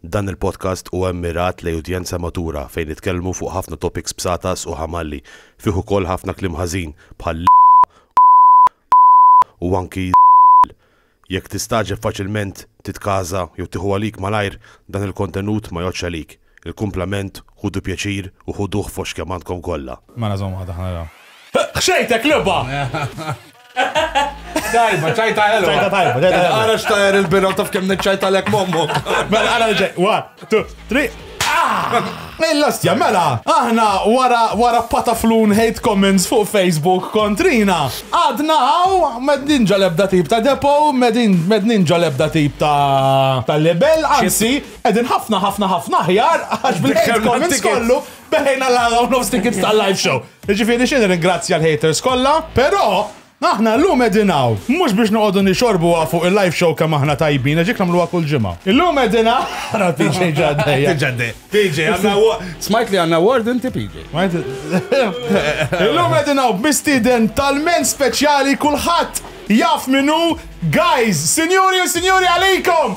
Dan il-podcast huwa mmirat lejn udjenza matura fejn nitkellmu fuq ħafna topics b'satas u ħamalli. Fih ukoll ħafna kliem ħażin bħal l-, u anki l-. Jekk tistagħġeb faċilment, titkaża jew tieħu għalik malajr, dan il-kontenut ma jgħoddx għalik. Il-kumplament Ħudu pjaċir u ħuduh fost kemm għandkom kollha. Mela żomm waħda ħa naraw. Ħxejtek lubha! Tajba, ċajta ħelwa. Ċajta tajba, ċajta ħelwa. Ara xtajr il-bira u taf kemm niċċajtalek mommu. Mela ara ġej, one, two, three. Mill-lastja, ah! mela, aħna wara wara pataflun hate comments fuq Facebook kontrina. Għadna għaw, med ninġa lebda tip ta' depo, med ninġa lebda tip ta' ta' lebel, anzi, Qegħdin ħafna ħafna ħafna aħjar għax bil-hate comments kollu beħejna l-għala u nofs tickets tal-live show. Ġifieri xi nirringrazzja l-haters kollha, però Aħna l-lum edinaw, mux biex noqodu nixorbu fuq il-live show kam aħna tajbin, ġik namlu kull ġimma. Il-lum edina, għara PJ ġaddej. Ġaddej. PJ, għanna smajt li għanna word inti PJ. Il-lum edinaw b'mistiden tal-men speċjali kullħat jaf minu, guys, sinjuri u sinjuri għalikom!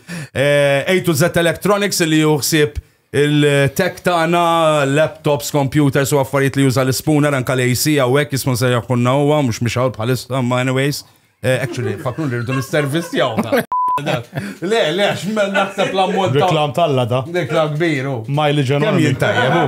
Eh, A to Z Electronics li juħsib il-tech tagħna, laptops, computers u affarijiet li juża l-spooner anka l-AC hawnhekk jismu se jaħkunna huwa mhux mhux hawn bħalissa ma anyways. Eh, actually, fakru li rridu l-servizz jawna. Le, le, x'men naħseb l-ammont ta' Reklam talla da. Reklam kbir u. Miley Kemm General. jintajjeb u.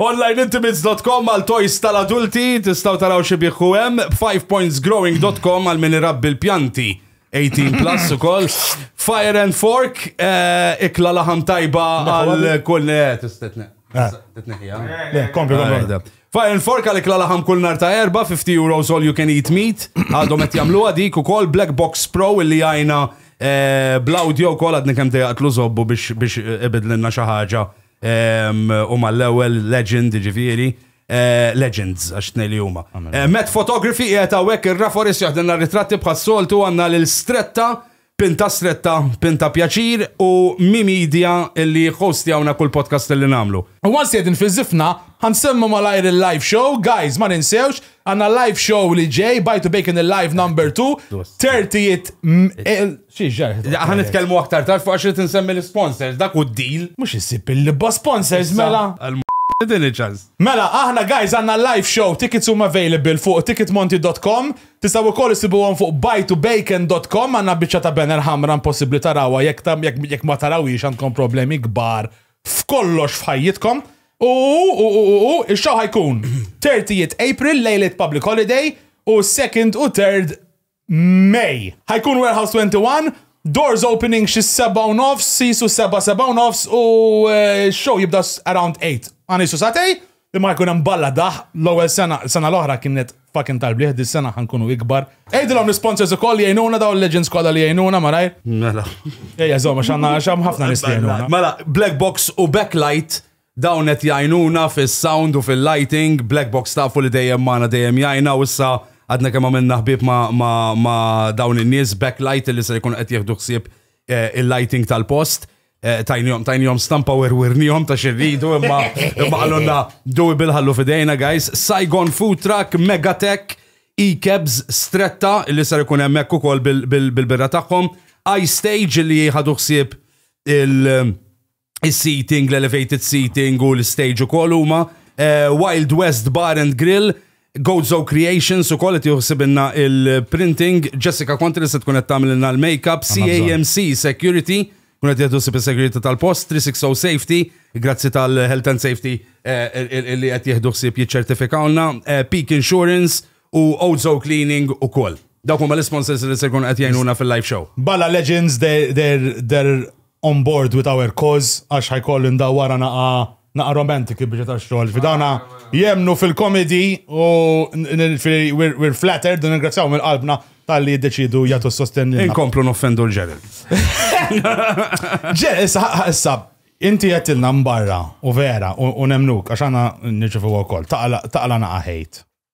Onlineintimates.com għal toys tal-adulti, tistaw taraw xi biħu hemm, 5pointsgrowing.com għal min irabbi l-pjanti 18 plus u koll. Fire and Fork, eh, ikla laħam tajba għal kull eh, tistetne. Eh. Titneħja. Le, kompli, kompli. Fire and Fork għal ikla laħam kull nar ta' erba, 50 euros all you can eat meat. Għadhom qed jagħmluha dik ukoll Black Box Pro illi għajna eh, bl-audio wkoll għadni kemm dejaqtlu żobbu biex biex eh, ibidlilna xi ħaġa ehm, u mal-ewwel legend ġifieri. Eh, legends, għax tnej li huma. Eh, Met Photography qiegħed hawnhekk ir-Raforis jaħdilna ritratti bħas-soltu għandna lil Stretta, Pinta Stretta, Pinta Pjaċir u Mi Media illi hostjawna kull podcast li nagħmlu. U għan sjedin fi zifna, għan semmu malajr il-live show, guys, ma ninsewx, għanna live show li ġej, bajtu bacon il-live number 2, 30 Xi ġarħ. Ħa nitkellmu aktar tard fuq għax irid insemmi l-sponsors, dak hu d-deal. Mhux issib il-libba sponsors mela. Tini ċans. Mela, aħna guys għandna live show, tickets huma available fuq ticketmonti.com, tistgħu wkoll issibuhom fuq buytobacon.com, għandna biċċa ta' banner ħamra impossibbli tarawha jekk ma tarawhiex għandkom problemi kbar f'kollox f'ħajjitkom. U ix-show ħajkun 30 April lejlet public holiday u 2nd u 3rd May. Ħajkun Warehouse 21, doors opening xi seba' u nofs, sisu seba' seba' u nofs u eh, show jibda around 8. Għanisu satej, li ma jkun hemm balla daħ l-ewwel sena, sena l-oħra kienet fucking tal-bliħ, dis sena ħankunu ikbar. Ejdilhom l-sponsors ukoll jgħinuna daw l-legends kollha li jgħinuna marajr. Mela. Ejja żomma x'għandna x'hemm ħafna nies li jgħinuna. Mela, Black Box u Backlight Dawn qed jgħinuna fis-sound u fil-lighting, Black Box tafu li dejjem magħna dejjem jgħinna u issa għadna kemm għamilna ħbieb ma' dawn in-nies, Backlight li ser ikunu qed jieħdu ħsieb il-lighting tal-post. Tajnihom stampa werwirnihom ta' x'irridu imma qalulna doable ħallu f'idejna guys, Saigon Food Truck, Megatech, E-Cabs, Stretta li ser ikun hemmhekk ukoll bil-birra tagħhom, I-Stage li ħadu ħsieb il- is-seating, l-elevated seating u l-stage u kol huma eh, Wild West Bar and Grill, Gozo Creations u kol qed juħsibinna il-printing, Jessica Contri se tkun qed tagħmilna l-makeup, CAMC Security, kun qed jieħdu sib is-segurity tal-post, 360 Safety, grazzi tal-Health and Safety eh, li qed jieħdu ħsieb jiċċertifikawna, eh, Peak Insurance u Ozo Cleaning u kol. Dawk huma l-sponsors li se jkun qed jgħinuna fil-live show. Bala Legends, they're, they're, they're On board with our cause għax ħa jkolli ndawwarha naqa' naqa' romantic il-biċċa tax-xogħol. Fi dawna jemmnu fil-comedy u we're flattered u nirringrazzjahom minn qalbna talli jiddeċiedu jagħtu s-sostenn lilna. Inkomplu noffendu l-Gerald. Ġe, issa ħa issa inti għedtilna mbarra u vera u nemmnuk għax aħna nirċevuha wkoll taqla' naqa' hate.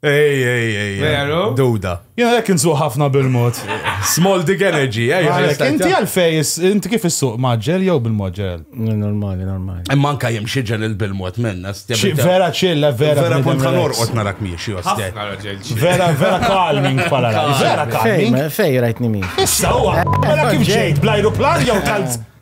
Ej, ej, ej. Veru? Duda. Jena lek insuq ħafna bil-mod. Small dick energy, ej. Għalek, inti għalfej, inti kif issuq maġġel jew bil-maġġel? Normali, normali. Imma anka jim xieġel il-bil-mod minna. Vera ċilla, vera. Vera punt kan orqot narak miexi, ostja. Vera, vera calming pala. Vera calming. Fej, rajtni mi. Issa, u għara kif ġejt, blajru plan jew tal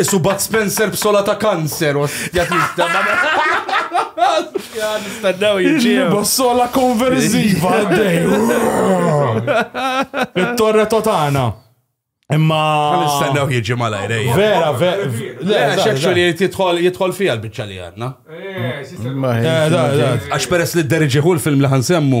Isu Bud Spencer b'sola ta' kanser, ostja tista' Ostja, nistennew jiġi. B'sola konverżiva għaddej. It-torre totana. Imma. Nistennew jiġi malajr. Vera, vera. Le, xekxu li jitħol jitħol fija l-bicċa li għanna. Għax peress li d-deriġiħu l-film li ħansemmu.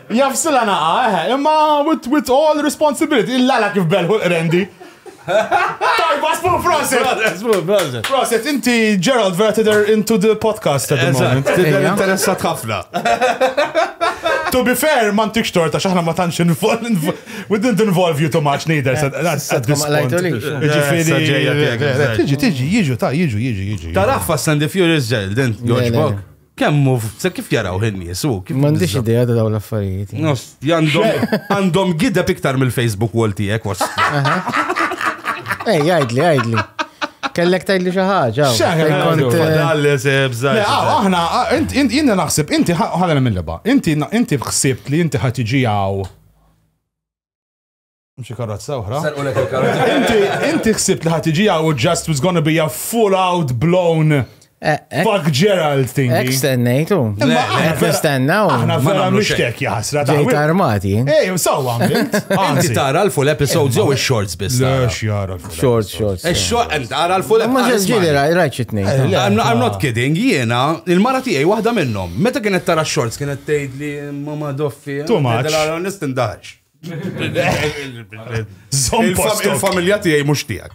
Jaghsilha nagħha, eħe, imma with, with all responsibility, il-lala kif belħu l-qrendi. Tajba, smu, proset! Smu, proset! Proset, inti Gerald vera tidher into the podcast at the moment. Tidher interessat ħafna. To be fair, ma ntikx torta xaħna ma tantx we didn't involve you too much neither. Tiġi, tiġi, jiġu, ta' jiġu, jiġu, jiġu. Taraf Fast and the Furious Gerald, dent, George Bog. Kemm hu se kif jarawh in-nies hu? kif M'għandix biżża- idea ta' dawn l-affarijiet. Nos, Għandhom għandhom gideb iktar mill-Facebook wall tiegħek was. Ej, għajdli, għajdli. Kellek tgħidli xi ħaġa. hawn. X'aħna Fejn kont, nagħmlu? eh, Dalli se Le, bżaj. għaw, aħna, ah, int- int- jina naħseb, inti ħalena mill-leba, inti inti ħsibt li inti ħatiġi għaw Mxi karozza uħra. Sarqulek il-karozza. Inti, inti xsibt li ħatiġi għaw just was gonna be a full out blown eh, eh. Fuck Gerald thing. Ek stennejtu. Ek stennaw. Aħna vera mishtek jahsra. Ġejt armati. Ej, sawa għamilt. Inti tara l-full episodes jew il-shorts biss. Lex jara l-full. Shorts, shorts. Il-short, eh, tara l-full episodes. Ma ġili rajt xitni. I'm not kidding, jiena, il-mara tijaj wahda minnom. Meta kienet tara shorts kienet tejd li mama doffi. Too much. Nistindax. Il-familja tiegħi mhux tiegħek.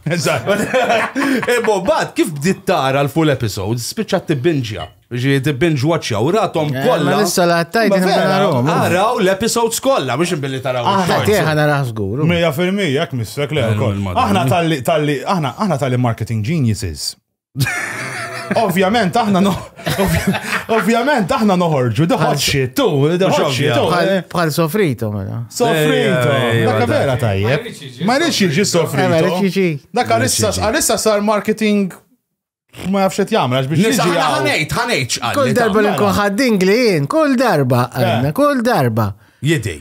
Ebo, eh, bad, kif bdiet tara l-full episodes, spiċċat tibbinġja. Ġi tibbinġ watcha u ratom eh, kollha. Ma nista la tajt Araw l-episodes kollha biex billi taraw. Aħna tieħa naraw żgur. Mija fil-mija jekk missek le wkoll. Aħna tal-li aħna aħna tal-li marketing geniuses. Ovvjament aħna no. Ovvjament aħna noħorġu, doħod xit, tu, doħod xit. Bħal sofrito, mela. Sofrito, dakka vera tajjeb. Ma rridx jiġi sofrito. Dakka għalissa sar marketing ma jafx qed jagħmel għax biex jiġi. Ħanejt, ħanejt. Kull darba li nkun ħaddin glien, kull darba, kull darba. Jidej.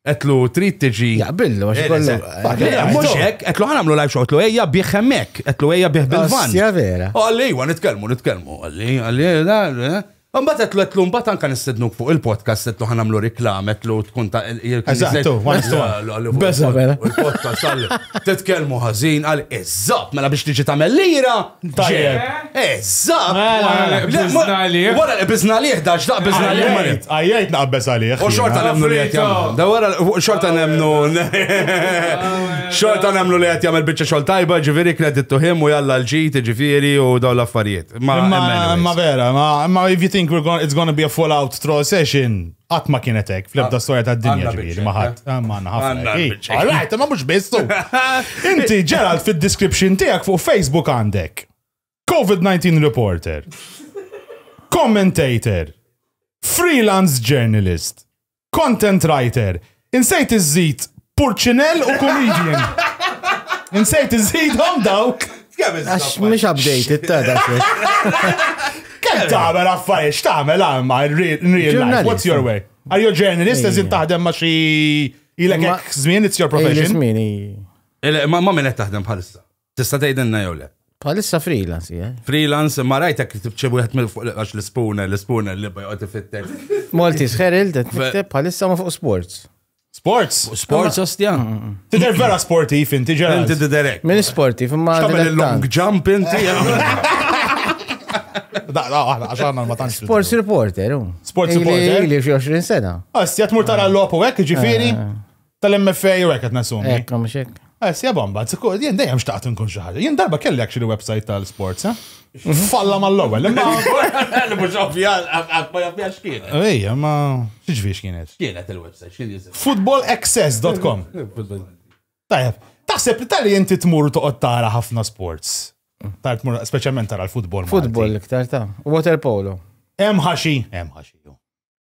Etlu trid tiġi. Jaqbillu, għax kollu. Mux hekk, etlu ħanamlu live show, etlu ejja bieħ hemmek, etlu ejja bieħ bil-van. Ja vera. Għalli, għan nitkellmu, nitkellmu, għalli, għalli, għalli. Mbagħad etlu etlu mbagħad anka nistednuk fuq il-podcast etlu ħanamlu reklam etlu tkun ta' Eżattu, Besa vera. Il-podcast għalli. Titkellmu ħażin għal eżatt mela biex tiġi tagħmel lira. Tajjeb. Eżatt! Mela, mela, qbiżna għalih. Wara li qbiżna għalih, da x'daq qbiżna għalih ma Għajjajt, għajjajt naqbeż għalih. U xorta jiena. nemnu li qed jagħmel. Da wara xorta nemnu. Xorta nemnu li qed jagħmel biċċa xogħol tajba, ġifieri credit to him u jalla l-ġid, ġifieri u dawn l-affarijiet. Ma Imma, imma anyways. vera, ma, imma if you think we're gonna, it's gonna be a full out troll session, Qatt ma kienet hekk, fl-ebda ah, storja tad-dinja ġifieri ma ħadd. Ah, ma ħafna. Għalajt, ma mhux biss Inti Gerald fid-description tiegħek fuq Facebook għandek. COVID-19 reporter. Commentator. Freelance journalist. Content writer. Insejt iżżid Purċinell u Comedian. Insejt iżżidhom dawk. Għax mhux update it tada Kemm tagħmel affarijiet x'tagħmel għamma in real life. What's your way? Are you a journalist eżin taħdem ma xi ilek żmien it's your profession? Żmien Ma minn qed taħdem bħalissa. Tista' tgħidilna jew le? Bħalissa freelance, jien. Freelance, ma rajtek kitib xi wieħed mill fuq għax l-ispuna, l-ispuna li bajqgħod ifittek. Maltis Herald qed nikteb bħalissa ma fuq sports. Sports? Sports ostja. Mm, mm, mm. Tidher vera sportiv inti ġara. Inti diderek. Min sportiv imma. X'tagħmel il-long jump inti. Da, da, aħna, għaxħana ma tanx. Sports reporter, u. Sports reporter. Li 20 sena. Għastja ah, tmur tara ah. l-lopu għek, ġifiri. Ah. Tal-MFA u għek għetnasumi. Ekk, mux ekk. Għas eh, jabom, bat, jien dejjem xtaqt nkun xaħġa. Jien darba kelli actually website tal-sports, eh? Falla ma l-ewel. Imma mux ovvja, għat ma jabjax kien. Ejja, ma xieġviex kienet. Kienet il-website, xil jizim. Footballaccess.com. Tajab, taħseb li tal-li jinti tmur toqgħod tara ħafna sports. Tar tmur, specialment tara l-futbol. Futbol iktar ta' water polo. Hemm ħaxi, hemm ħaxi.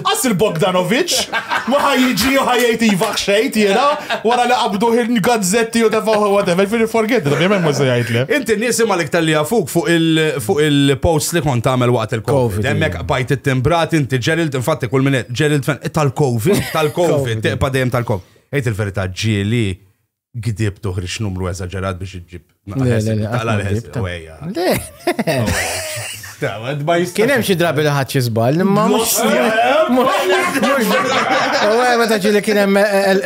Għas il-Bogdanovic, ma ħajġi u ħajjajt iva xejt jena, wara li qabdu il gazzetti u defaħu whatever, fil forget, da bjemen muża jgħajt le. Inti nisim għalik tal-li għafuk fuq il-post li kont għamel waqt il-Covid. Emmek bajt it-timbrat, inti Gerald, infatti kull minnet, Gerald fan, tal-Covid, tal-Covid, teqpa dejjem tal-Covid. Ejt il-verita ġili Gdib toħriġ numru eżaġerat biex iġġib. Taqla l-ħesib. Kien hemm xi drabi li ħadd xi żball, imma mhux. Ewe, meta ġieli kien hemm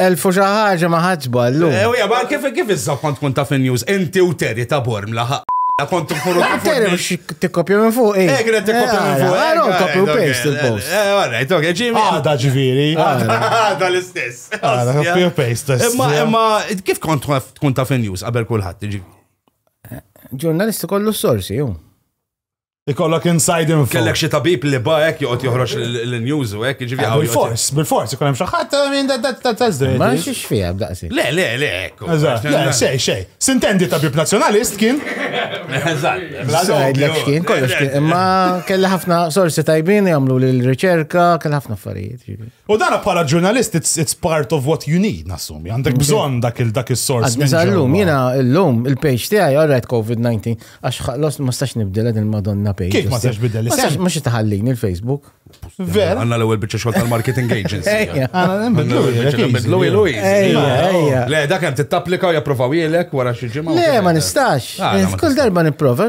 elfu xi ħaġa ma ħadd żball. Ewe, ma kif kif iżżomm kont tkun taf in-news inti u Terry ta' Borm laħaq. Kont tkunu Terry biex tikkopja minn fuq. Eh, kien qed tikkopja minn fuq. Għara kopju paste il-post. Eh, all right, ok, ġimi. Għada ġifieri. Għada l-istess. Imma kif kont tkun taf in-news qabel kulħadd iġi? Ġurnalisti kollu s-sorsi, ju. Ikollok inside info. Kellek xi tabib li ba hekk joqgħod joħroġ l-news u hekk jiġifieri. Bil-fors, bil-fors ikun hemm xi ħadd minn tażdej. Ma xiex fiha b'daqsi. Le, le, le. Eżatt, le, xej, xej. Sintendi tabib nazzjonalist kien. Eżatt. Sajdlek x'kien kollox kien. Imma kelli ħafna sorsi tajbin jagħmlu l-riċerka, kelli ħafna affarijiet. Jiġifieri. U dana bħala ġurnalist, it's, it's part of what you need, nassumi. Għandek bżon dak il-dak il-sors. Għallum, jena l-lum, il-page tijaj, għarrajt COVID-19, għax ħallos ma stax nibdel għed il-Madonna page. Kif ma stax bidel li sax? Mux taħallin il-Facebook. Ver. Għanna l-ewel bieċa xol tal-marketing agency. Għanna nbidlu nbidlu ilu. Le, dak għem t-tapplika u japprovaw jilek wara xieġima. Le, ma nistax. Ah, Kull darba niprofa,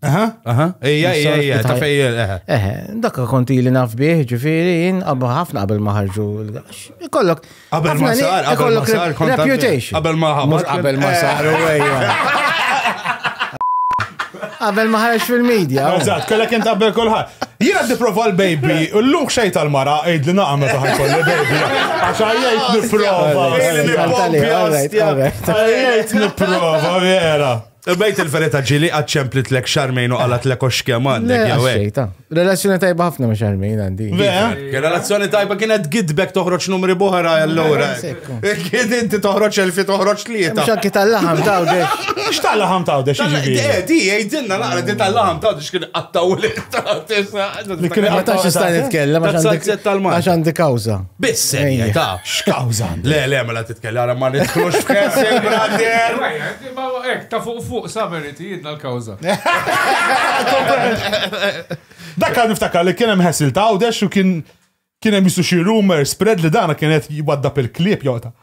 Aha, aha, ejja, ejja, ejja, ta' fejjel, eħe. Eħe, dakka konti li naf bieħ, ġifiri, jien qabba ħafna qabel maħarġu. Kollok. Qabel ma sar, qabel ma sar, reputation. Qabel ma ħamur. Qabel ma sar, u ejja. Qabel ma ħarġ fil-medja. Eżatt, kollha kien qabel kulħadd. Jien għaddi prova l-baby, l-luk xej tal-mara, għid li naqam meta ħajkolli baby. Għax għajjajt niprofa. Għajjajt niprofa, vera. Bejt il-verita ġili għad ċemplitlek xarmejn u għalat l-eko xkema għandek jew hekk. Relazzjoni tajba ħafna ma xarmejn għandi. Relazzjoni tajba kienet gidbek toħroġ numri boħra allura. Kien inti toħroġ elfi toħroġ tlieta. Xakki tal-laħam tawde. X'tal-laħam tawde x'ġibi? Eh, di jgħidilna naqra di tal-laħam tawde x'kien qattaw li tisa. Li kien qattaw x'ista' nitkellem għax għandi kawża. Biss ta' x'kawża. Le, le, mela titkellem ma nidħlux f'kessi, brother. Imma hekk ta' fuq fuq Savery tihidna l-kawża. Dak għad niftakar li kien hemm ħessil ta' għawdex u kien kien hemm jisu xi rumor spread li dana kien qed jwaddab il-klieb jota.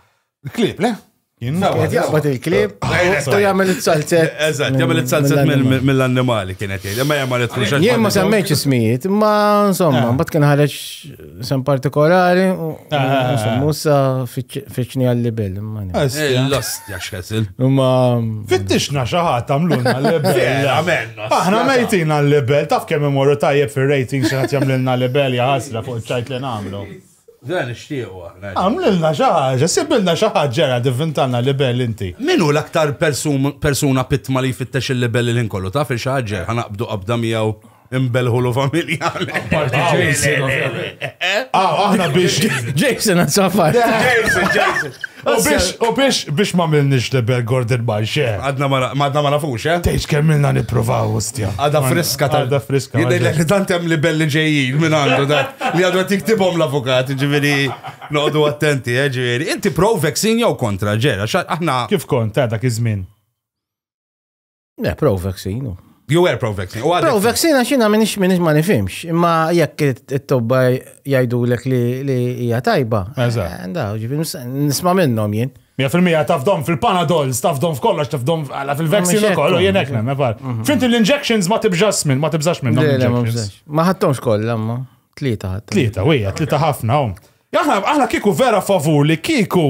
Il-klieb, le? Qed jaqbad il-klieb u jagħmel it-salzet. Eżatt, jagħmel it-salzet mill-annimali kien qed jgħid, imma jagħmel it-truxax. Jien ma semmejtx ismijiet, imma insomma, mbagħad kien ħareġ San partikolari, musa fiċni għal-libel. L-ostja xħesil. Ma. Fittixna xaħat għamluna l-libel. Aħna mejtin għal-libel, taf kemm imorru tajjeb fil-rating xaħat jamlilna l-libel jaħasra fuq ċajt li namlu. Dan ixtiequ aħna. Għamlilna xaħġa, sibilna xaħġa ġera divintanna libel inti. Minu l-aktar persuna pitma li jfittex il-libel il-ħin kollu, taf il-xaħġa, ħanaqbdu qabda miegħu. Imbelħu l familja. Ah, aħna biex. Jason, għad safar. Jason, Jason. U biex, u biex, biex ma milnix li bel Gordon Bay, xe. Għadna ma nafux, xe. Tejx kemm milna niprovaw, ustja. Għada friska tal. Għada friska. Jidej li tantem li belli ġejjin minn għandu da. Li għadu għatik tibom l-avukat, ġiviri, noqdu attenti, eh, ġiviri. Inti pro vaccine jew kontra, ġera, aħna. Kif kont, ta' dak iż-żmien? Le, pro-vaccine. Jew er pro-vaccine. Pro-vaccine għax jina minix minix ma nifimx, imma jekk it-tobba jajdu l li li hija tajba. Eżatt. Eh, nisma minnom jien. Mija fil-mija tafdom fil-panadol, tafdom f'kollox, tafdom fil-vaccine u kollu, jien ekna, nafar. Mhm. Fint l-injections ma tibżax minn, ma tibżax minn. Ma ħattomx kollha, ma. Tlieta ħadd. Tlieta, wija, tlieta ħafna. Aħna kiku vera favur li kiku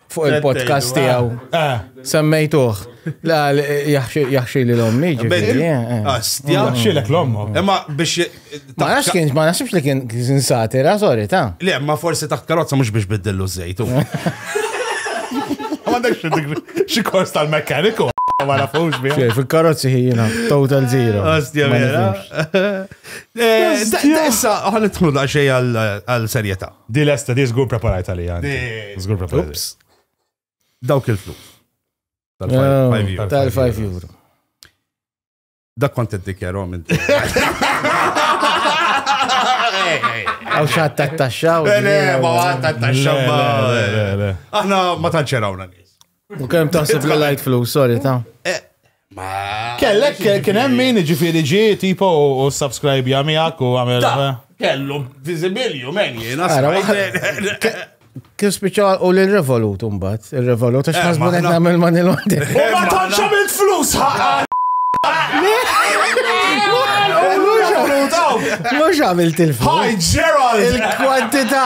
fuq il-podcast tiegħu. Ah, ah. Semmejtuh. La jaħxi li l-ommi ġifieri. Eh, eh. Jaħxilek l-ommu. Imma biex Ma nafx kien ma nafx li kien kien satira, sorry ta. Le, ma forsi taħt karozza mhux biex biddillu żejtu. Ma għandekx xi kors tal-mekkaniku ma nafux bi. Fil-karozzi ħina, total zero. Ostja vera. Eh, issa, ħan idħlu da xej għal-serjeta. Di lesta, di zgur preparajt għalija. Zgur preparajt. Dawk il-flus. Tal-5 ah, euro. Dak kont id-dikjaro minn. Għaw xaħat ta' taxxaw. Le, ma għat ta' taxxaw. Aħna ma tanċerawna nis. U kem taħseb li lajt flus, sorry, ta' eh, Ma. Kellek, kien hemm min ġifieri ġi tipo u subscribe jagħmilek u għamel. Eh. Kellu viżibilju men jiena. Kif spiċċa u l-revolut umbat, il-revolut, għax ħasbu eh, għedna għamil man il-għondi. U ma tanċa mill flus ħaqqa! Mux għamilt il-flus. Hi, Gerald! Il-kwantita!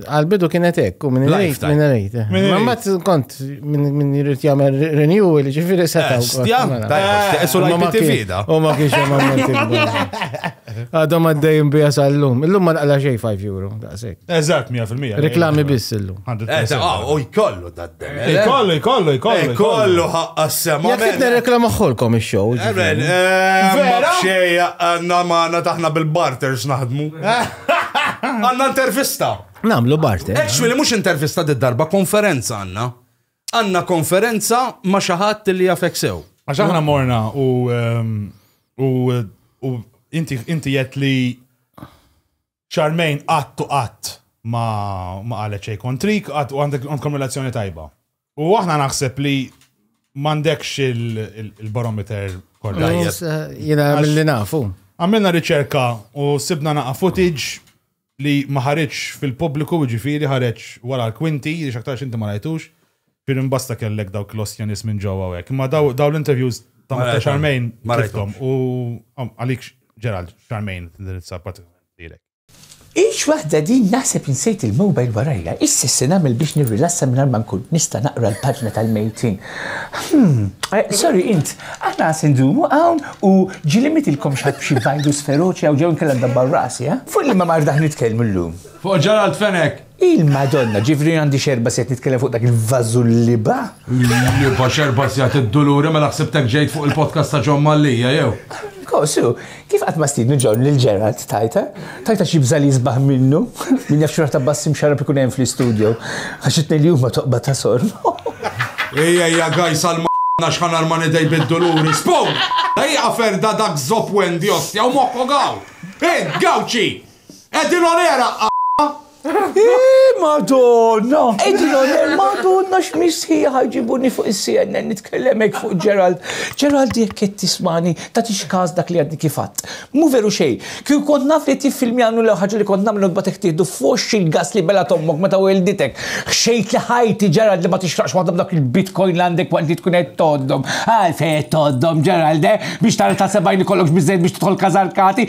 Għal-bidu kienet hekk, u minn rejt, minn rejt. Ma ma kont minn jirrit jagħmel renewal, ġifieri setgħu. Eh, stja, esu l-IP fida. U ma kienx hemm għamil Għadhom għaddejjin bija sal-lum. Illum ma naqla xejn 5 euro, daqshekk. Eżatt, 100%. Reklami biss illum. Eh, ah, u jkollu daddem. Eh, jkollu, jkollu, jkollu. Jkollu ħaqqa s-sema. Jekk qed nirreklama ħolkom ix-show. Vera? Xejja, għandna magħna taħna bil-barters naħdmu. Għanna intervista. Namlu Bart. Eh. Actually, mux intervista di darba, konferenza għanna. Għanna konferenza ma xaħat li jafek sew. Għax aħna morna u ehm, u u inti inti jett li ċarmejn għattu għatt ma ma għalet xej kontrik għatt u għandek għandkom relazzjoni tajba. U aħna naħseb li mandekx il-barometer kollha. Jena mill-li nafu. Għamilna riċerka u sibna naqa footage li ma ħareġ fil-pubbliku ġifiri ħareġ wara l-kwinti, li xaktarx inti ma rajtux, fir imbasta kellek dawk l-ostjanis minn ġewwa hekk. Imma daw l-interviews ta' Mr. Charmaine ma rajthom u għalik Gerald Charmaine tindirizza pratikament lilek. Ix waħda din naħseb insejt il-mobile warajja, issa se nagħmel biex nirrilassa mingħajr ma nkun nista' naqra l-paġna tal-mejtin. Hmm, eh, sorry int, aħna se ndumu hawn u ġilimitilkom xatt b'xi virus feroċi jew ġew inkella ndabbar rasi, eh? Fuq li ma mardaħ nitkellmu llum. Fuq Ġaralt Fenek! Il-Madonna, ġifieri għandi x'erba' sigħat nitkellem fuq dak il-vażu l-libgħa? L-libgħa x'erba' sigħat id-duluri, mela ħsibtek ġejt fuq il-podcast ta' John Mallia jew? Kossu, kif qatt ma stiednu John lil Gerald tajtha? Tajtha xi bżal isbaħ minnu? Min jaf x'rata bass imxarrab ikun hemm fl-istudio. Għax it-tnejn li huma toqba ta' sorb. Ejja, ejja guys għal Madonna x'ħa narman idej bid-duluri. Spun! Ejja ferda dak zopp Wendy ostja u moħħok hawn! Int, Gawċi! Edin onera Iiii, madonna! Edin onera, madonna x'misħija ħajġibuni fuq il-CNN nitkellemek fuq Gerald. Gerald jekk qed tismani, ta' tixkas dak li għadni kifat. Mu veru xej, kju kont naf li tiffilmjanu l ħaġa li kont namlu nbatek tieħdu f'woxx il-gas li belgħet ommok meta welditek. Ħxejt li ħajti Gerald li ma tixraqx waħda b'dak il-bitcoin li għandek waqt li tkun qed tgħoddhom. Għalfejn qed tgħoddhom Gerald, eh? Biex tara ta' sebgħin ikollokx biżejjed biex tidħol kaza l-kati?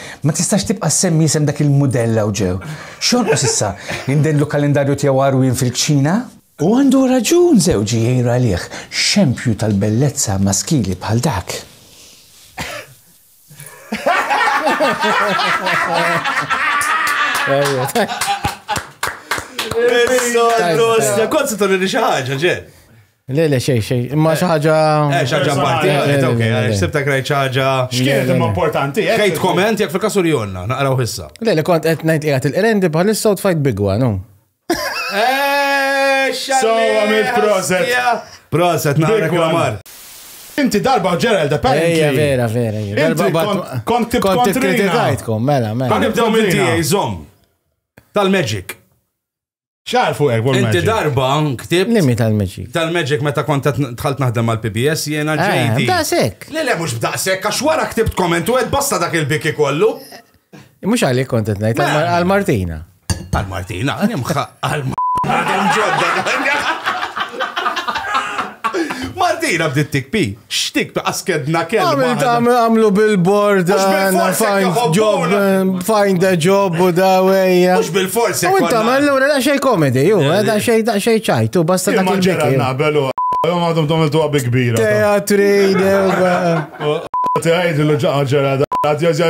Ma tistax tibqa' ssemmi isem dak il-mudell hawn ġew. X'jonqos issa, li ndendlu kalendarju tiegħu għarwien fil-kċina? U għandu raġun żewġi jgħir għalih, xempju tal-bellezza maskili bħal dak. Kont se turi xi ħaġa, ġen. Le, le, xej, xej. Imma xi ħaġa. Eh, xi ħaġa parti, eh, ok, għax sibta krajt xi ħaġa. X'kienet imma importanti. Eh? Kejt komment jekk fil-kasu li jonna, naqraw issa. Le, le, kont qed ngħid qiegħed il-qrendi bħalissa u tfajt bigwa, no? Eh, so, għamil proset. Proset, naqra klamar. Inti darba Gerald apparently. Ejja, vera, vera. Inti kont tib kontrina. Kont mela, mela. Kont nibdew minn tiegħi, żomm. Tal-Magic. ċar fuq hekk Inti darba ktib. Limi tal-Magic. Tal-Magic meta kont tħalt naħdem mal-PBS jiena eh, ġejdi. B'daqsek. Le le mhux b'daqsek għax wara ktibt komment u qed basta dak il-biki kollu. Mhux għalik kont qed ngħid għal-Martina. Għal-Martina, nimħa għal-Martina. Martina bdiet tikpi. X'dik ta' askedna kelma. Għamil ta' għamlu billboard għanna find job, find a job u da wejja. Mux bil-forsi. U inta ma l-lura da xej komedi, ju, eh, da xej da xej ċajtu, basta da kil-biki. Nabelu, jom għadhom tom il-tuwa bi kbira. Teatri, dewba. Teħajdu l-ġaġġera da.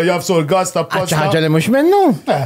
Jafsu l-gas ta' posta. ċaġġa li mux minnu? Eh.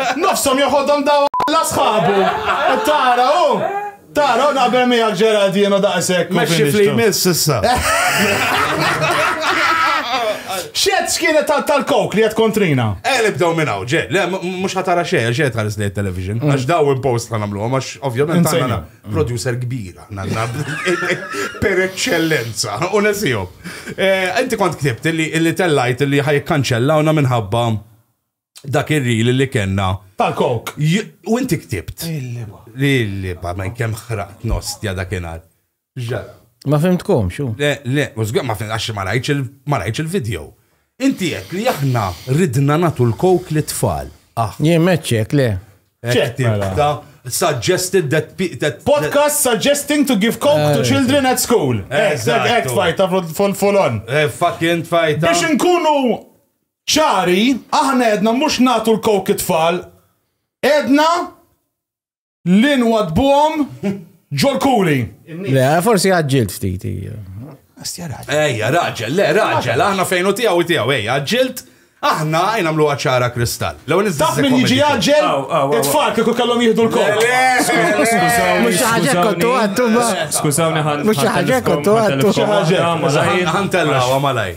Nofshom joħodhom daw Alla sħabu! Tara hu! Tara hu naqbel miegħek Gerald jien hu daqshekk. Mexxi f'li jmiss issa. X'għedt x'kienet tal tal-coke li għedt kontrina? Ejja nibdew minn hawn, Ger. Le, mhux ħa tara xejn, xejn tħares lejn it-television. Għax daw impost ħa nagħmluhom għax ovvjament għandna producer kbir aħna għandna per eċċellenza u nesihom. Inti kont ktibt li tellajt li ħa jikkanċellawna minħabba dak ir-ril li kellna. Tal-kok. U inti ktibt. Il-liba. Il-liba, ma kemm ħraqt nostja dakinhar. Ma fimtkom, xu? Le, le, mużgur ma fimtkom, għax ma rajtx il-video. Inti qed li aħna ridna natu l-kok li tfal. Ah. Jien meċċek, le. Ċek, mela. suggested that, that podcast suggesting to give coke to eh. children at school. Exact, exact, fajta full on. Eh, fucking fajta. Biex nkunu ċari, aħna għedna mhux nagħtu l-coke it-tfal, għedna li nwadbuhom ġol-kuli. Le, forsi għagġilt ftit. Astja raġel. Ejja, raġel, le, raġel, aħna fejnu tiegħu tiegħu, ejja, għagġilt. Aħna għajna mlu għacċara kristall. L-għu nizdaf minn jiġi għagġel, it-tfal kiku kellhom jihdu l-kol. Mux ħagġek kontu għattu ma. Skużawni ħan. Mux ħagġek kontu għattu. Ħantella għamalaj.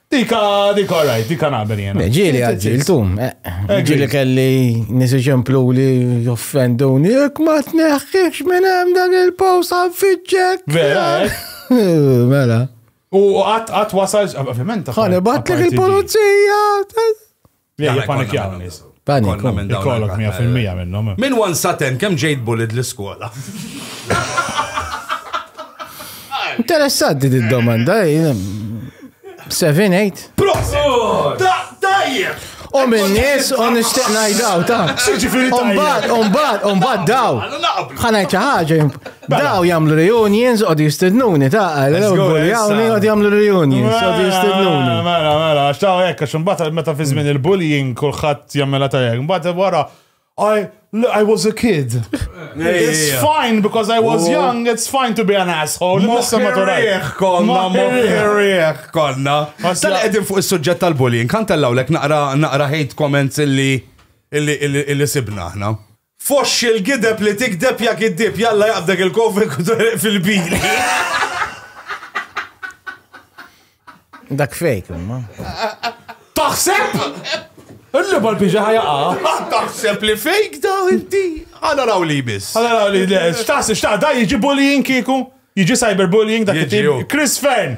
Dika, dika, all right, dika naqbel jena. Ġili għadġiltu, ġili kelli nisi ċemplu li joffenduni, jek ma t-neħħiċ minn hemm dan il-post għanfiċċek. Vera, Mela. U għat għat wasal, ovvijament. Għan ibatlek il-polizija. Jgħja panik jgħawnis. Panik, kollok 100% minnom. Min wan saten, kem ġejt bulid l-skola? Interessanti di domanda, 7-8. Prosit! Tajjeb! U minn nies u nixtieq ngħidaw ta'. X'ġifieri tajjeb? Umbagħad, umbagħad, umbagħad daw. Ħanajt xi ħaġa Daw jamlu reunions, għod jistednuni, ta' għal-buljawni, għod jamlu reunions, għod jistednuni. Mela, mela, xtaw jekk, għax mbata meta fi żmien il-bullying kulħadd jammela ta' jekk, mbata wara, I, I was a kid. It's fine because I was oh. young, it's fine to be an asshole. Moħħirieħ konna, moħħirieħ konna. Tal-edin fuq il-sujġet tal-bullying, kan tellaw lek naqra hate comments illi illi sibna ħna. Foxxi l-gideb li tigdeb ja giddieb, jalla jaqbdek il-kofri jkun toreq fil-bini. Dak fejk, imma. Taħseb? Illi bal biġa ħajaqa. Taħseb li fejk da inti. Għana raw li bis. Għana raw li, xtaħseb, xtaħ, da jiġi bullying kiku? Jiġi cyberbullying dak it-tip. Chris Fern,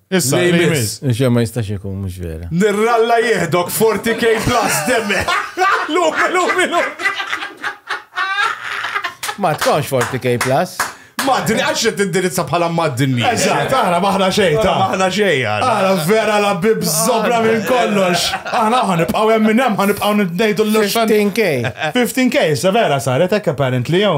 Issa, Lej li miss. miss. Nxie ma jistax ikun, mux vera. Nirralla jihdok 40k plus demme. Lum, lum, lum. Ma tkunx 40k plus. Madni, għax qed tindirizza bħala madni. Eżatt, aħna maħna xejn ta' Maħna xejn. Aħna vera la bib zobra minn kollox. Aħna ħan nibqgħu hemm minn hemm ħan nibqgħu ngħidu l-xan. 15k. 15k, sa vera saret hekk apparently jew.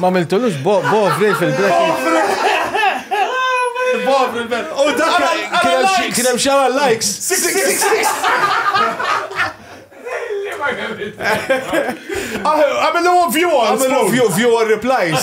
Ma miltulux bo bovri fil-break. Bovri il-bet. U dak kien hemm xara likes. Six, six, six, six. Għamillu view għal. Għamillu view għal replies.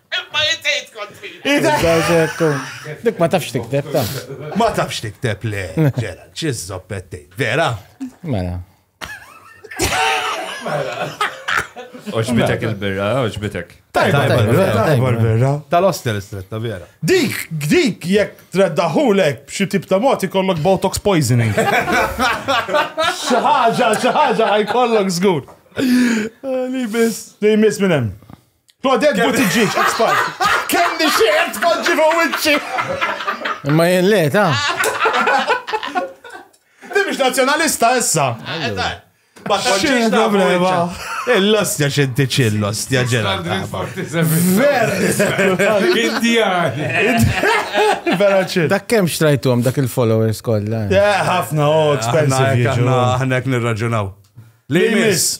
Imma jitejt kontri. Dik ma tafx tikteb ta. Ma tafx tikteb le, ġera, ċizzop pettejt, vera? Mela. Mela. Oġbitek il-birra, oġbitek. Tajba l-birra. Tal-ostel istretta, vera. Dik, dik, jek treddaħulek b'xi tip ta' moti kollok botox poisoning. Xaħġa, xaħġa, għaj kollok zgur. Li bis. Li mis minnem. Claudette Buttigieg, ex-part. Kemm nixxieq tpoġġi fuq wiċċi. Imma jien le, ta. Di biex nazzjonalista issa. X'in problema? Il-lostja xinti ċil lostja ġela. Ver! Indijani. Vera ċil. Dak kemm xtrajtuhom dak il-followers kollha. Ħafna, oh, expensive. Aħna nirraġunaw. Li miss.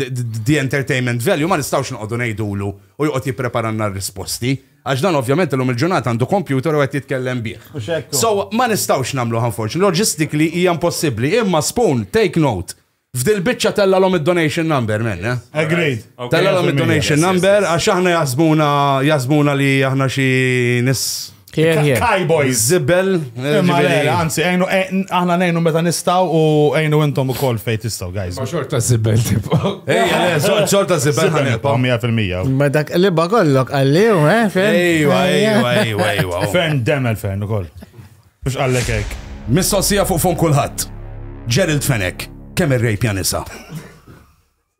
the entertainment value ma nistgħux noqogħdu ngħidulu u joqgħod jippreparanna r-risposti, għax dan ovvjament illum il-ġurnata għandu kompjuter u qed jitkellem bih. So, ma nistgħux nagħmluha unfortunately, logistically hija impossibbli, imma Spoon, take note, f'dil-biċċa tellgħalhom id-donation number, men, eh? Agreed. Tellgħalhom id-donation number għax aħna jaħsbuna jaħsbuna li aħna xi nies Kai boys. Zibel. Anzi, għajnu, eh, aħna nejnu meta nistaw u għajnu intom u kol fej tistaw, guys. Ma xorta zibel tipo. Ej, xorta zibel ħanilpa. 100%. Ma dak li bagollok għalliju, eh, fern. Ejwa, ejwa, ejwa, ejwa. Fern demel fern u kol. Mux għallek ek. Missosija fuq fun kullħat. Gerald Fenek, kemm ir-rejp janisa.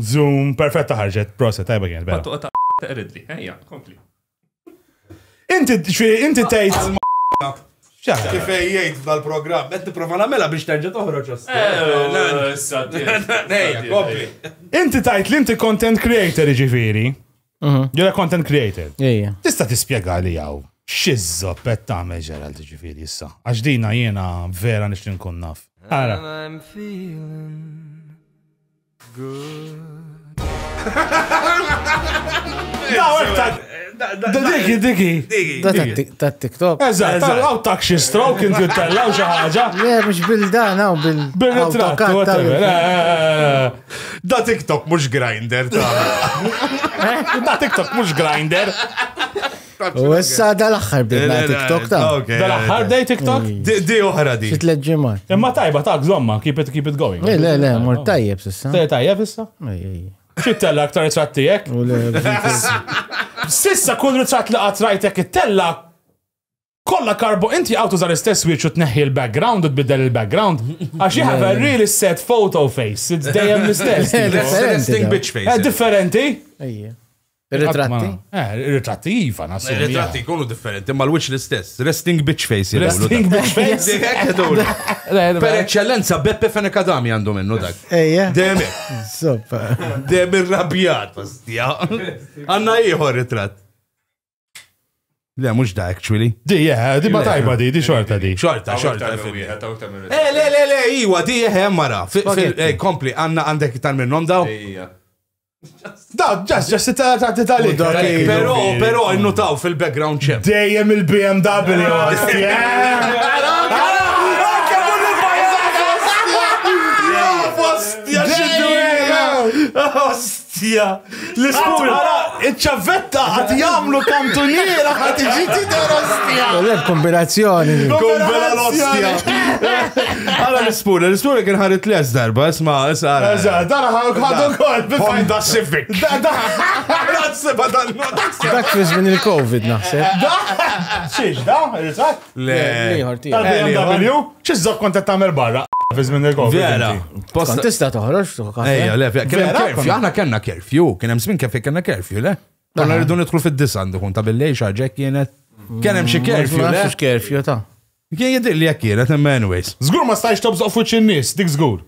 Zoom, perfetta ħarġet, proset, tajba kienet bella. Pattuqa ta' taqridli, ejja, kompli. Inti, inti tgħid. Kif jgħid f'dal-programm, qed tipprova nagħmela biex terġa' toħroġ Inti tajt li inti content creator ġifieri. Mhm. You're a content creator. Tista' tispjega li hawn xizzo pet tagħmel Gerald ġifieri issa. Għax dina jiena vera nix nkun naf. Ara. Diki, diki. Ta' TikTok. Eżatt, għaw tak xi stroke inti tella u xi ħaġa. Le, mhux bil-dan hawn bil. Bil-ritratt. Da TikTok mhux grinder ta'. Da TikTok mhux grinder. U issa da l-axħar bidna TikTok ta' Da l-axħar dej TikTok? Di uħra di. Xit leġġimat. Imma tajba ta' gżomma, keep it, keep it going. Le, le, le, mor tajjeb sissa. Tajjeb tajjeb issa? Xittella aktar ritrat tijek? Sissa kull ritrat li għatrajtek it-tella kolla karbo inti għawtu zar istess wieċu u tneħħi l-background u tbiddel il-background. Għax you have a really set photo face. It's dejjem l-istess. Differenti. Differenti. Ir-ritratti? Eh, ir-ritratti iva, nasib. Ir-ritratti jkunu differenti, ma l-wiċ l-istess. Resting bitch face. Resting bitch face. Per eccellenza, Beppe Fenekadami għandu minnu dak. Ejja. Demi. Soppa. Demi rabjat, pastija. Għanna iħor ritratt. Le, mux da, actually. Di, yeah, di ma tajba di, di xorta di. Xorta, xorta. Eh, le, le, le, iwa, di, eh, mara. Kompli, għanna għandek tal minnom daw. Ejja. Da, ġas, ġas, tati tali. Pero, pero, innutaw fil-background ċem. Dejjem il-BMW. Ostja! L-iskur! Iċ-ċavetta għat jamlu kantuniera għat iġiti der ostja! Kombinazzjoni! Kombinazzjoni! Għala l-ispur, l-ispur kien ħarit les darba, isma, isma. Eżat, dara ħaruk ħadu kol. Honda Civic. Da, da, da, da, Dak fiż minn il-Covid naħseb. Da, xiex, da, eżat. Le, liħor ti. Tal-BMW, xiex zok kontet tamer barra. Fiż minn il-Covid. Vera. Kont tista toħroġ tuħka. Ejja, le, kien hemm kerfju, aħna kellna kerfju, kien hemm smin kif kellna kerfju, le. Konna rridu nidħlu fid-disa għandu kun ta' billej xaġek kienet. Kien hemm xi kerfju, le. Kerfju ta' Kien jidhirli hekk kienet, imma anyways. Żgur ma stajtx tobżoq f'wiċċ in-nies, dik żgur.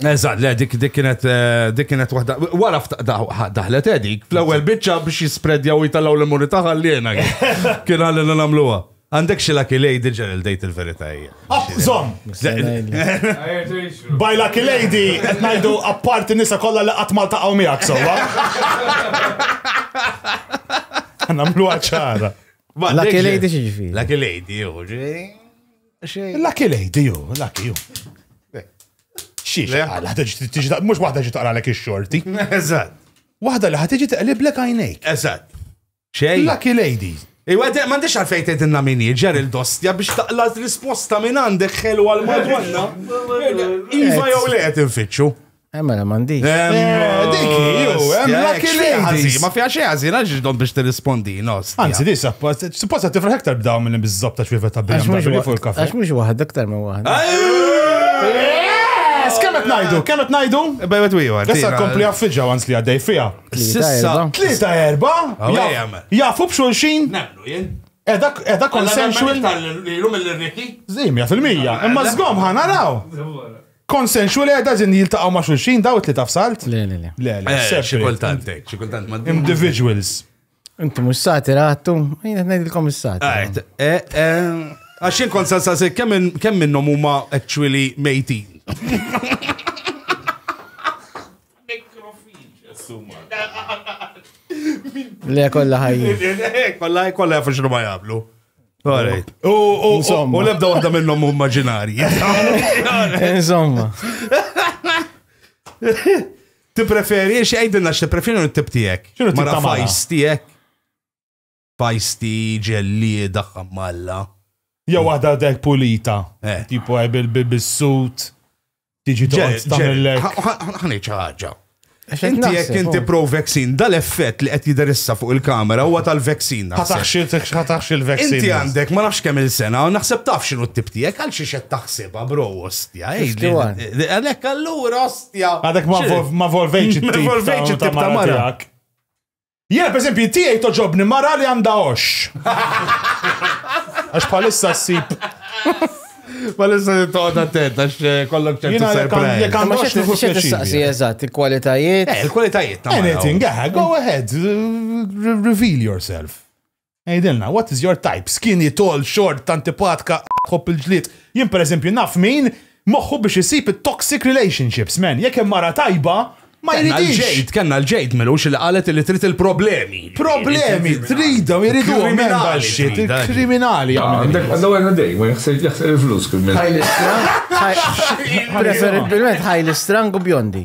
Eżatt, le dik dik kienet eh, dik kienet waħda. Wara fta- da- ħa- daħlet eh, dik fl-ewwel biċċa biex jispreddjaw jitallgħu l-immunità ħalliena kien. Kien ħallina nagħmluha. Għandek xi lucky lady ġenil dejt il-verità hija. App, zom! By Lucky Lady, qed ngħidu apparti nisa kollha li qatt Malta qaw miegħek sewwa. Nagħmluha ċara. Lucky lady xieġifieri? Lucky lady, jo, ġifieri. Lucky lady, jo, lucky jo. Xiex, għala, tiġi mux wahda ġi taqra l-ek xorti. Eżat. Wahda li ħatiġi taqlib l-ek għajnejk. Eżat. Xej. Lucky lady. Iwa, ma ndix għalfejn tgħidilna min ġer il-dostja biex taqla risposta minn għandek ħelu għal madonna. Iva jew le qed infittxu. Emma la mandi. Dik ju, hemm lucky ladies. Ma fiha xi ħażin għax ġdom biex tirrispondi, nos. Anzi, di supposta tifraħ iktar b'daw minn biżżob ta' xwiefa ta' BMW fuq il-kafe. Għax mhux waħda aktar minn waħda. Yes, kemm qed ngħidu, kemm qed ngħidu? Bejwet wieħed. Issa kompli affiġġa għans li għaddej fiha. Sissa. Tlieta erba. Jafu b'xulxin. Nemlu jien. Edha eh, consensual. Tal-lum il-rikki? Zimja fil-mija. Imma zgom ħanaraw. Consensual eh, da zin jiltaqaw ma' xulxin daw it-tlieta f'salt? Le, le, le. Le, le, Eh, xi separate. kultant hekk, xi kultant ma' Individuals. Inti mux sati rattu, jina t-najdilkom il-sati. Għajt, eh, eh, Għax jien kont salsa se kemm min- kemm minnhom huma actually mejtin. Le kolla ħajja. Kolla kolla jafu xinu ma jablu. Alright. U u- Insomma. u lebda waħda minnhom hu immaġinari. Insomma. Tippreferi, xi għidilna x'tippreferi u tip tiegħek. X'inhu tip Mara ta' mara? fajs tiegħek. Feisty, ġellieda, ħammalla. Jew waħda dek pulita. Eh. Tipo eh, bil-suit. Tiġi toqgħod tagħmellek. Ħanej ħaġa. Inti jekk inti pro vaccine, dal-effett li qed jiderissa fuq il-kamera huwa tal-vaccine. Ħataħx il-vaccine. Inti għandek ma nafx kemm il-sena, naħseb taf x'inhu t-tip tiegħek għal xi qed taħsibha bro ostja. Għalhekk allura ostja. Għadek ma volvejx it-tip ta' mara tiegħek. Jiena pereżempju tiegħi toġobni mara li għandha għoxx. Għax bħalissa ssib. Bħalissa toqgħod attent għax eh, kollok ċertu Jiena jekk għand- surprise. jekk għand għoxx nieħu Xed pjaċir. tistaqsi biha. eżatt, il-kwalitajiet. Eh, il-kwalitajiet ta' mara. Anything, eh, go ahead, r- reveal yourself. Għidilna, what is your type? Skinny, tall, short, antipatka, tħobb il-ġlied. Jien per eżempju naf min moħħu biex isib it-toxic relationships, man. Jekk hemm mara tajba, ma jridix. Ġejt, kellna l-ġejt milux li qalet li trid il-problemi. Problemi, tridhom, jridu kriminali. Kriminali. Għandaw għanna dej, ma jħsir il-flus kriminali. Preferibilment ħajli strang u bjondi.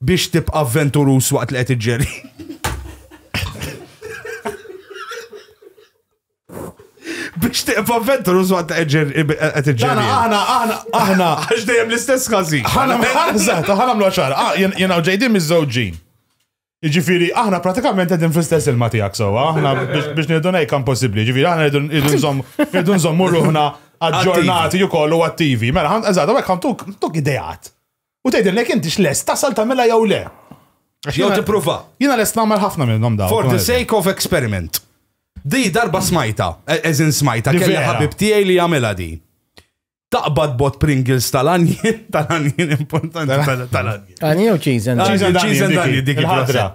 Biex tibqa' avventuruż waqt li qed iġġeri. Biex tibqa' avventuruż waqt li qed iġġeri. Aħna, aħna, aħna. Għax dejjem l-istess każin. Aħna, aħna, aħna, ċar. Ah, jena u ġejdin miż-żewġin. Ġifiri, aħna pratikament għedin fl-istess il matijak so, aħna biex niddu nejk possibli, ġifiri, aħna rridu nżommu ruħna aġġornati u kollu attivi. Mela, għan, eżad, għek għan tuk, tuk idejat. U tgħidilna jekk intix lest tasal tagħmilha jew le. Għax Jew jiena- tippruva. Jiena lest nagħmel ħafna minnhom dawn. For the sake of experiment. Di darba smajta, e- eżin smajta, Di kelli vera. ħabib tiegħi li jagħmilha di. Taqbad bot Pringles tal-anjen, tal-anjen importanti tal- tal-anjen. Għani jew cheese and Cheese and cheese and onion, onion, dik dik il-ħadra. il-ħadra.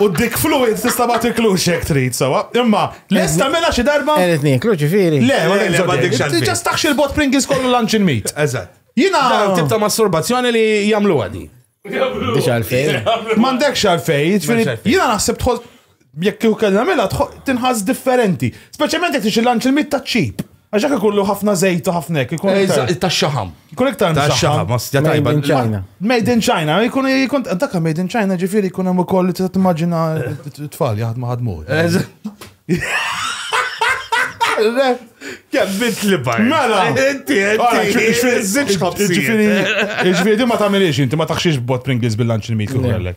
U dik fluid tista' ma tiklux hekk trid sewwa. Imma lest tagħmilha xi darba? Qed nieklu ġifieri. Le, ma tiksodix. Tiġa staħx il-bot Pringles kollu lunch in meat. Eżatt. Jiena tip ta' masturbazzjoni li jagħmlu għadi. Biex għalfej. M'għandekx għalfej, jiena naħseb tħoss jekk kieku kellha mela tinħass differenti. Speċjalment jekk tixi lunch il-meat ta' ċip. Għax hekk ikollu ħafna żejt u ħafna hekk. ikun Eh, iktar- Ta' xaħam. Ikun iktar Ta' msaħħa. xaħam, ostja Made tajba. in China. Made in China, jkun jkun dak made in China ġifieri jkun hemm ukoll li tista' timmaġina t-tfal jaħdmu ħadmu. Kemm bint li bajt. Mela. Inti, Ora, inti. ġifieri- ġifieri- Iżżid xħabsijiet. Ġifieri, ġifieri di ma tagħmilix inti ma taħxiex bot Pringles bil-lunch il-meat li għallek.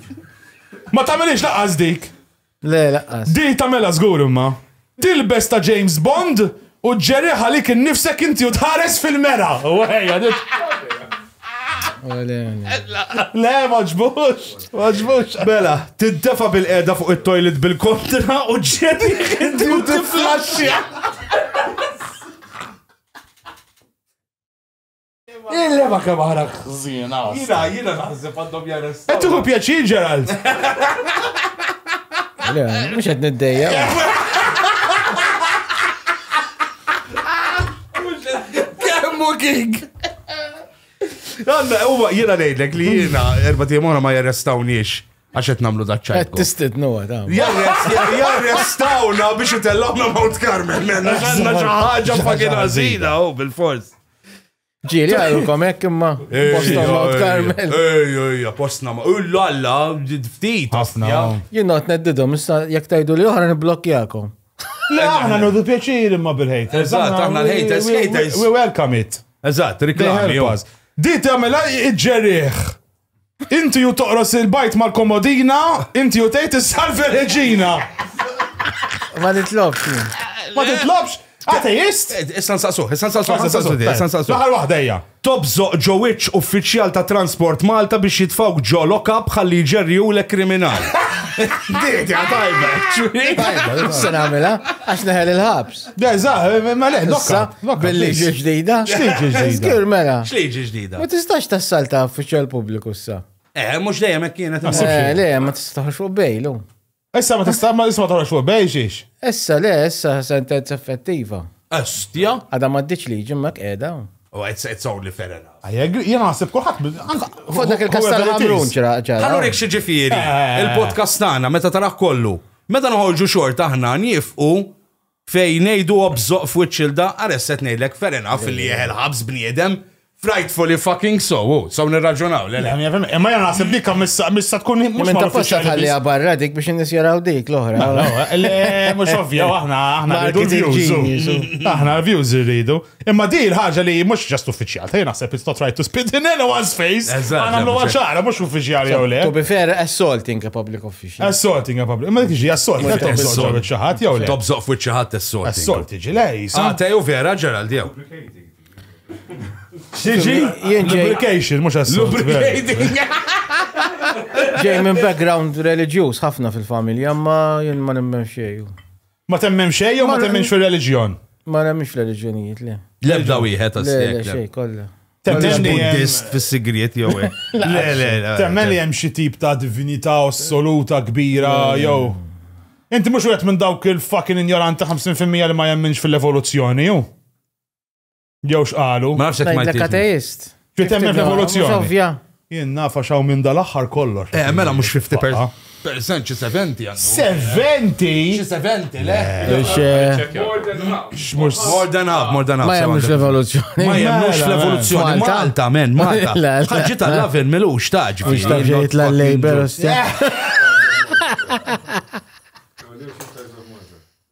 Ma tagħmilhiex laqqas dik. Le laqqas. Din tagħmilha żgur imma. Tilbes ta' James Bond u ġġerriħ għalik innifsek inti u tħares fil-mera. U ħejja dit. Le, ma ġbux, ma ġbux. Bela, tiddefa bil-qeda fuq it-toilet bil-kontra u ġġerriħ inti u tiflaxxja. Il-lema kemm aħna ħżiena. Jiena, jiena naħseb għandhom jarrestaw. Qed tieħu pjaċir Gerald. Le, mhux qed niddejja. Kemmu king. Għanna, huwa jiena ngħidlek li jiena erba' tiemona ma jarrestawniex għax qed nagħmlu daċċaj. Qed tistidnu għadam. Jarrestawna biex itellawna Mount Carmel. Għanna xi ħaġa fucking ħażina, oh, bil-fors. Ġiri għalkom hekk imma posta Mount Carmel. Ej, ej, postna ma. U l-alla, ftit. Ħafna. Jien not neddidhom, issa jekk tajdu li oħra niblokkjakom. Le, aħna nudu pjaċir imma bil-hejt. Eżatt, aħna l-haters, haters. We welcome it. Eżatt, reklami. Dit għamela iġġerieħ. Inti ju toqros il-bajt mal-komodina, inti ju tgħid is-salve reġina. Ma nitlobx. Ma titlobx. Ateist? Eh, issa nsaqsuh, issa nsaqsuh, issa nsaqsuh, issa nsaqsuh. L-aħħar waħda hija. Tobżoq ġowiċ uffiċjal ta' Transport Malta biex jitfawk ġo lokab ħalli jġerriwlek kriminal. Diet, ja tajba. Tajba, se nagħmilha għax neħel il-ħabs. Issa, bil-liġi ġdida. Xliġi ġdida. Zgur, mela. Xliġi ġdida. Ma tistax tassalta uffiċjal pubbliku issa. Eh, mux dejjem hekk kienet. Eh, le, ma tistax fuq bejlu. Issa ma tistax ma isma toħroġ fuq bej xiex. Issa le, issa sentenza effettiva. Estja? Għada ma ddiċ liġi ma qiegħda. Oh, it's, it's only fair enough. Għajeg, jena għasib kullħat. Fuq dak il-kastan għamrun ċara. Għallu xieġifiri, eh. il-podcast tagħna meta taraħ kollu. Meta nħolġu xort aħna nifqu Fej ngħidu obżoq f'wiċċ ilda, Aresset ngħidlek fair enough li jieħel ħabs bniedem, frightfully fucking so, u so nirraġunaw, le le. Imma jena naħseb dik missa missa tkun mhux Minn ta' posta tħalli barra dik biex in-nies jaraw dik l-oħra. Le, mhux ovvja, aħna aħna rridu Marketing l-views. genius. u- Aħna l-views irridu. Imma di l-ħaġa li mhux ġast uffiċjal, ta' naħseb it's not right to spit in anyone's face. Eżatt. Għana mlu ċara, mhux uffiċjali jew le. To be fair, assaulting a public official. Assaulting a public. Imma dik ġi assault, qed assault ġi ċaħat jew le. Top zoq fuq ċaħat assaulting. Assault ġi le, jisa. Ah, teju vera Gerald jew. Xiġi? Lubrication, mhux assault. Lubricating. Ġej minn background reliġjuż ħafna fil-familja, ma jien ma nimmen xejn. Ma temmen xej jew ma temmenx fir-reliġjon? Ma nemmix fl-reliġjonijiet le. Lebda wieħed Le, le, għastek. xej kollha. Temmen Temmen li hemm- Buddist fis-sigriet jew hekk. Le, le, le. Temmen li hemm xi tip ta' divinità assoluta kbira jew. Inti mhux wieħed minn dawk il-fucking injoranti 50% li ma jemminx fil-evoluzzjoni, hu? Jew x'qalu. Ma nafx jekk Malti. Ngħidlek ateist. Trid temmen f'evoluzzjoni. Ovvja. Jien nafa xaw minn dal-aħħar kollox. Eh, mela mhux 50 per. Percent xi 70 għandu. 70? Xi 70, le? Mhux more than half, more than half. Ma jemmux l-evoluzzjoni. Ma jemmux l-evoluzzjoni. Malta, men, Malta. Ħaġġi tal-lavin milux taġ. Mhux ta' ġejt l-labor,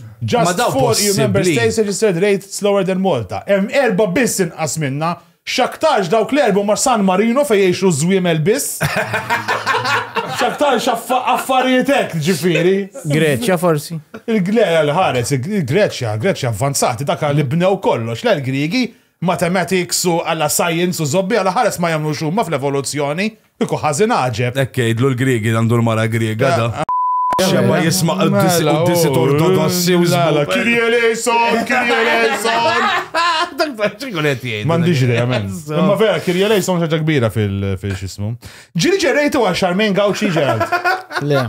Ma Just dawn four EU Member possibbli. States registered rates lower than Malta. Hemm erbgħa biss inqas minna. X'aktarx dawk l-erbgħa huma San Marino fejn jgħixu ż-żwiemel biss. X'aktarx affa- affarijiet hekk, ġifieri. Greċja forsi. Il-Gle, l-ħares, il-Greċja, Greċja avvanzati, dak li bnew kollox, le l-Griegi, Mathematics u alla science u zobbi alla ħares ma jemmnux huma fl-evoluzzjoni. Kieku ħażin għaġeb. Hekk jgħidlu l-Griegi għandu l-mara Griega da. X'ebha jisma' qdisiet ortodossi u żball. Kyrie eleison, Kyrie eleison. Dak ta' xi jkun qed jgħid. M'għandix idea men. Imma vera Kyrie eleison xi ħaġa kbira fil-x'ismu. Ġieli ġerejtu għal Charmaine Gauci Gerald. Le.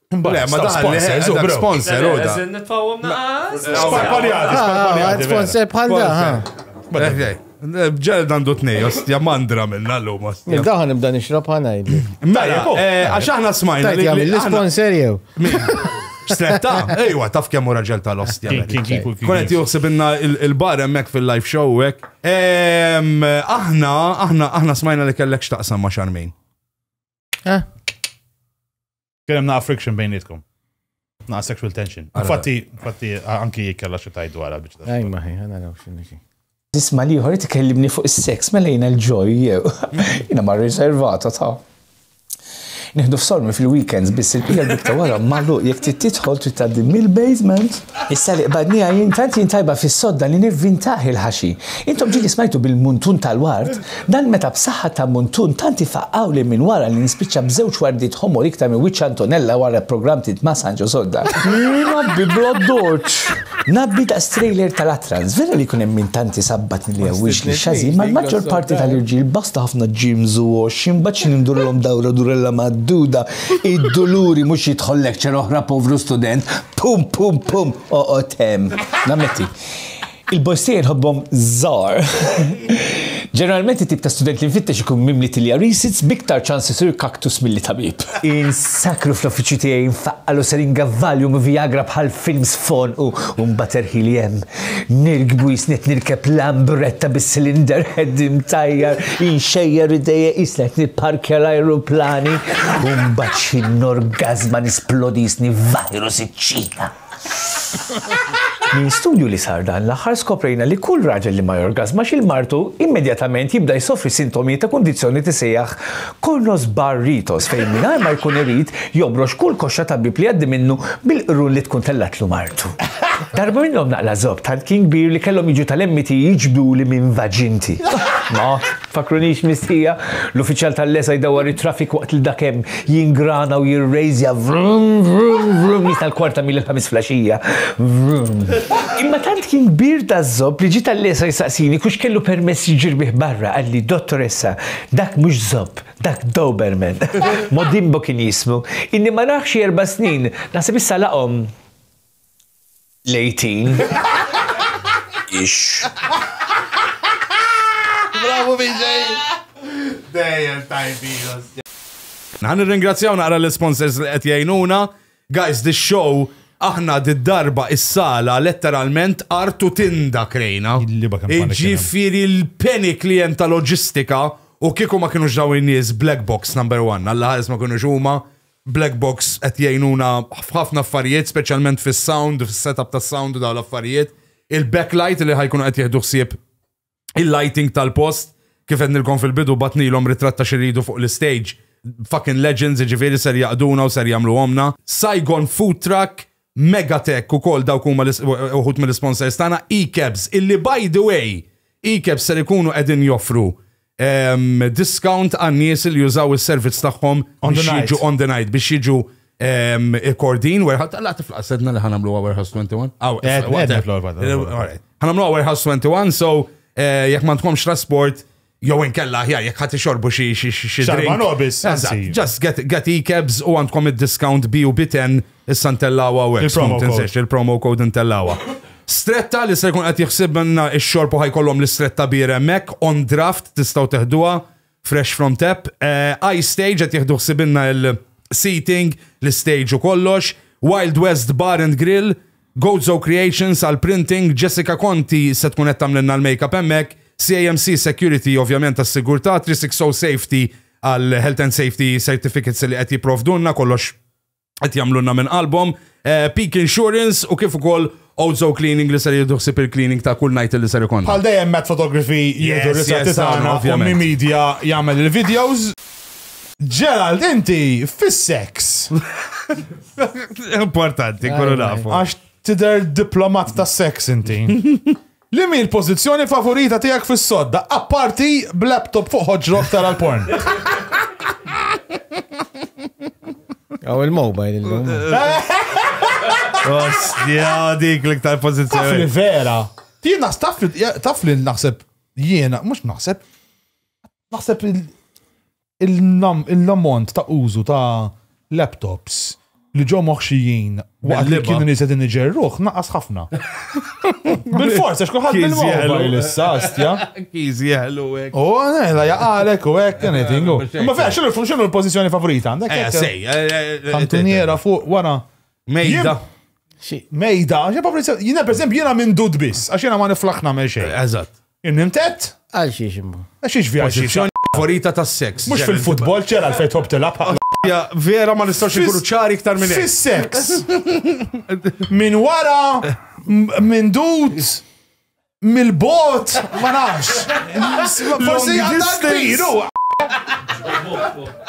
Le, ma daħal sponsors, u bro. Sponsor, u da. Nitfawom naqas. Sparpaljati, sparpaljati. Sponsor bħal da. Ġel dandu t-nej, ostja mandra minna l-lum, ostja. Daħan nibda nixrob ħana jibli. Mela, għax aħna smajna. Tajt jgħamil l-sponsor jew. X'setta? Ejwa, taf kemm u raġel tal-ostja. Konet juħsib inna il-bar emmek fil-live show hekk. Aħna, aħna, aħna smajna li kellek x'taqsam ma' xarmin. Eh? Kien hemm naqa' friction bejnietkom. Naqa' sexual tension. Infatti, infatti anki kella xi tajt dwarha biex. Ej ma ħi, ħana raw x'inhi. Tisma' liħor tkellimni fuq is-seks mela jiena l-ġoj jew. Jiena ma riservata ta' nieħdu f'sormi fil-weekends biss il-pija bikta wara mallu jekk trid tidħol trid tgħaddi mill-basement. Issa li qbadnija jien tant jien tajba fis-sodda li nivvintaħ il-ħaxi. Intom ġili smajtu bil-muntun tal-ward Dan meta b'saħħa ta' muntun tant ifaqqgħuli minn wara li nispiċċa b'żewġ wardiet ħomor iktar minn wiċċ Antonella wara programm Tliet ma' Sanġo Sodda. Ngħabbi bl-addoċċ. Ngħabbi daqs trailer tal-Atrans. Vera li jkun hemm min tant isabbat li jgħawwix lix-xażin, ma l-maġġor parti tal-irġiel basta ħafna gyms u għoxx, imbagħad xi nindurilhom dawra durella mgħadduda, id-duluri mhux jidħol lecture oħra povru student, pum pum pum, oqgħod hemm. Nammetti. Il-boys tiegħi nħobbhom żgħar. Ġeneralment it-tip ta' student li nfittex ikun mimli tilja risits b'iktar ċans isir kaktus milli tabib. Insakru fl-uffiċċju tiegħi nfaqqal u seringa Valium u Viagra bħal films f'għonqu u mbagħad erħili hemm. Nirkbu jisni qed nirkeb lambretta bis-cylinder head imtajjar, inxejjer idejja qisni qed nipparkja l-ajruplani u mbagħad xi norgażma nisplodi jisni virus iċ-Ċina. Minn studju li sar dan l-aħħar skoprejna li kull raġel li ma jorgasmax il martu immedjatament jibda jsofri sintomi ta' kundizzjoni tisejjaħ Kornos Bar Ritos fejn mingħajr ma jkun irid jobrox kull koxxa ta' bieb li jgħaddi minnu bil-qrun li tkun tellatlu martu. Darba minnhom naqla' żopp tant kien kbir li kellhom jiġu tal-MT jiġbduli minn vaġinti. Tfakkrunix mistħija? L-uffiċjal tal-LESA jdawwar it-traffic waqt li dak hemm jingrana u jirrejżja vrum vrum vrum jista' l-kwarta mil il-Ħamis flaxija. Vrum. Imma tant kien kbir daz-zopp li ġie tal-LESA jsaqsini kux kellu permess jġirbih barra, qalli, Dottoressa, dak mhux zopp, dak Doberman. Modimbo kien jismu. Ilni ma narh xi erba' snin. Naħseb issa laqhom. Lejtin. Ix. Bravo BJ! Dejjem tajbin. Naħan nirringrazzjaw naqra l-sponsors li qed jgħinuna. Guys, this show aħna d-darba is-sala letteralment artu tinda krejna. Ġifiri l-panic li jem ta' loġistika u kieku ma kienu ġdaw nies black box number one, għalla ħares ma kienu huma Black box qed jgħinuna f'ħafna affarijiet, speċjalment fis-sound, fis-setup tas-sound u dawn l-affarijiet. Il-backlight li ħajkunu qed jieħdu ħsieb il-lighting tal-post, kif għednilkom fil-bidu bagħtnilhom ritratt ta' x'iridu fuq l-istage. Fucking legends, jiġifieri ser jaqduna u ser jagħmluhomlna. Saigon Food Truck, Megatech ukoll dawk huma uħud mill-isponsors tagħna, eCabs, illi by the way, eCabs ser ikunu qegħdin joffru discount għan-nies li jużaw is-servizz tagħhom biex jiġu on the night, biex jiġu Kordin, warehouse, tala tiflaqs edna li ħanamluha warehouse 21. Ħanamluha warehouse 21, so jekk ma tkomx trasport, Jew inkella aħjar jekk ħadd ixorbu xi xi xi xi Xarba drink. nobis, Eżatt, anzi. Just get, get e-cabs u għandkom id-discount B u B10 issa ntellawha u hekk. Il-promo Skont insejx, code. il-promo code ntellawha. Stretta li se jkun qed jħsib minna x-xorb u ħajkollhom l-istretta beer hemmhekk on draft tistgħu teħduha fresh from tap. Eh, Ice Stage qed jieħdu ħsibinna il-seating, l-stage u kollox. Wild West Bar and Grill Gozo Creations għall-printing, Jessica Conti se tkun qed tagħmlilna l-makeup hemmhekk, CAMC Security ovvjament għas-sigurtà, 360 Safety għall-health and safety certificates li qed jipprovdulna, kollox qed jagħmlulna minn qalbhom, Peak Insurance u kif ukoll Ozo Cleaning li ser jieħdu ħsieb il-cleaning ta' kull night li ser ikollna. Bħal dejjem Matt Photography jieħdu Yes, r-ritratti yes, tagħna, tagħna, u ovvjament. Mi Media jagħmel il-videos. Gerald, inti fis-sex. Importanti, kullu nafu. Għax tider diplomat ta' sex inti. Li mi l-pozizjoni favorita tijak fis-sodda, apparti b'laptop fuq ħoġrok tara l-porn. Għaw il-mobile il-lum. Ostja, dik l-iktar pozizjoni. Taf li vera. Jena taf li naħseb, jena, mux naħseb, Naħseb il-ammont ta' użu ta' laptops li ġo moħxijin waqt li kienu nies qegħdin iġerruh naqas ħafna. Bil-fors għax kulħadd bil-mobile issa astja. Kiż jeħlu hekk. U la jaqalek u hekk anything. Ma vera x'inhu x'inhu l-pożizzjoni favorita għandek? Eh, sej. Eh, eh, Kantuniera fuq wara. Mejda. Mejda, xi favorita. Jiena pereżempju jiena minn dud biss għax jiena ma niflaħna me xejn. Eżatt. Irnimtet? Għal xiex imma. Għax xiex vjaġġi. Pożizzjoni favorita tas-seks. Mhux fil-futbol ċera għalfejn tħobb tilgħab bħal Ja, vera ma nistgħux inkunu ċari iktar minn hekk. Fis-seks. Minn wara, m- minn dud, mill-bot, ma nafx. Forsi għandha kbir, u.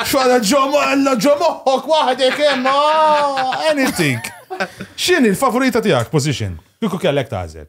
Xwara ġomo, għalla ġomoħok waħdek hemm, ah, anything. X'inhi l-favorita tiegħek position? Kieku kellek tażel.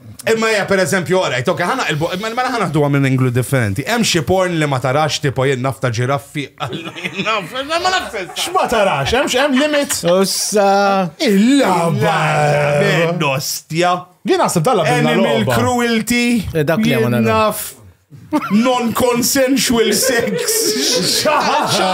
Imma hija per eżempju, orajt, ok, ħana il imma mela ħana ħduha minn inglu differenti. Hemm xi porn li ma tarax tipo jien nafta ġiraffi. X'ma tarax, hemm hemm limit. Ussa. Il-laba. Nostja. Jien naħseb dalla Animal cruelty. Eh, dak li naf. Non-consensual sex. Xaħġa.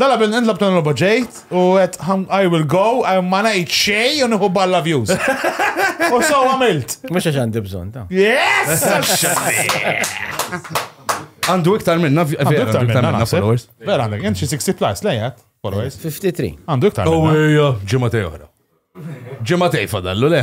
Dala bin intlab dan roba ġejt u għet I will go, ma najt xej u nħu balla views. U so għamilt. Mux għax għandi bżon ta. Yes! Għandu iktar minna, għandu iktar minna followers. Vera għandek, jent 60 plus, lejat, followers. 53. Għandu iktar minna. U ġimma tej oħra. Ġimma tej fadallu, le?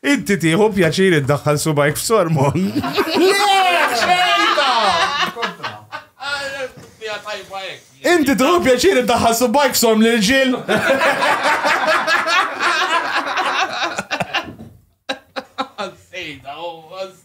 Inti tieħu pjaċir iddaħħal subajk f'sormon. Inti tieħu pjaċir iddaħħal subajk f'sorm lil ġil.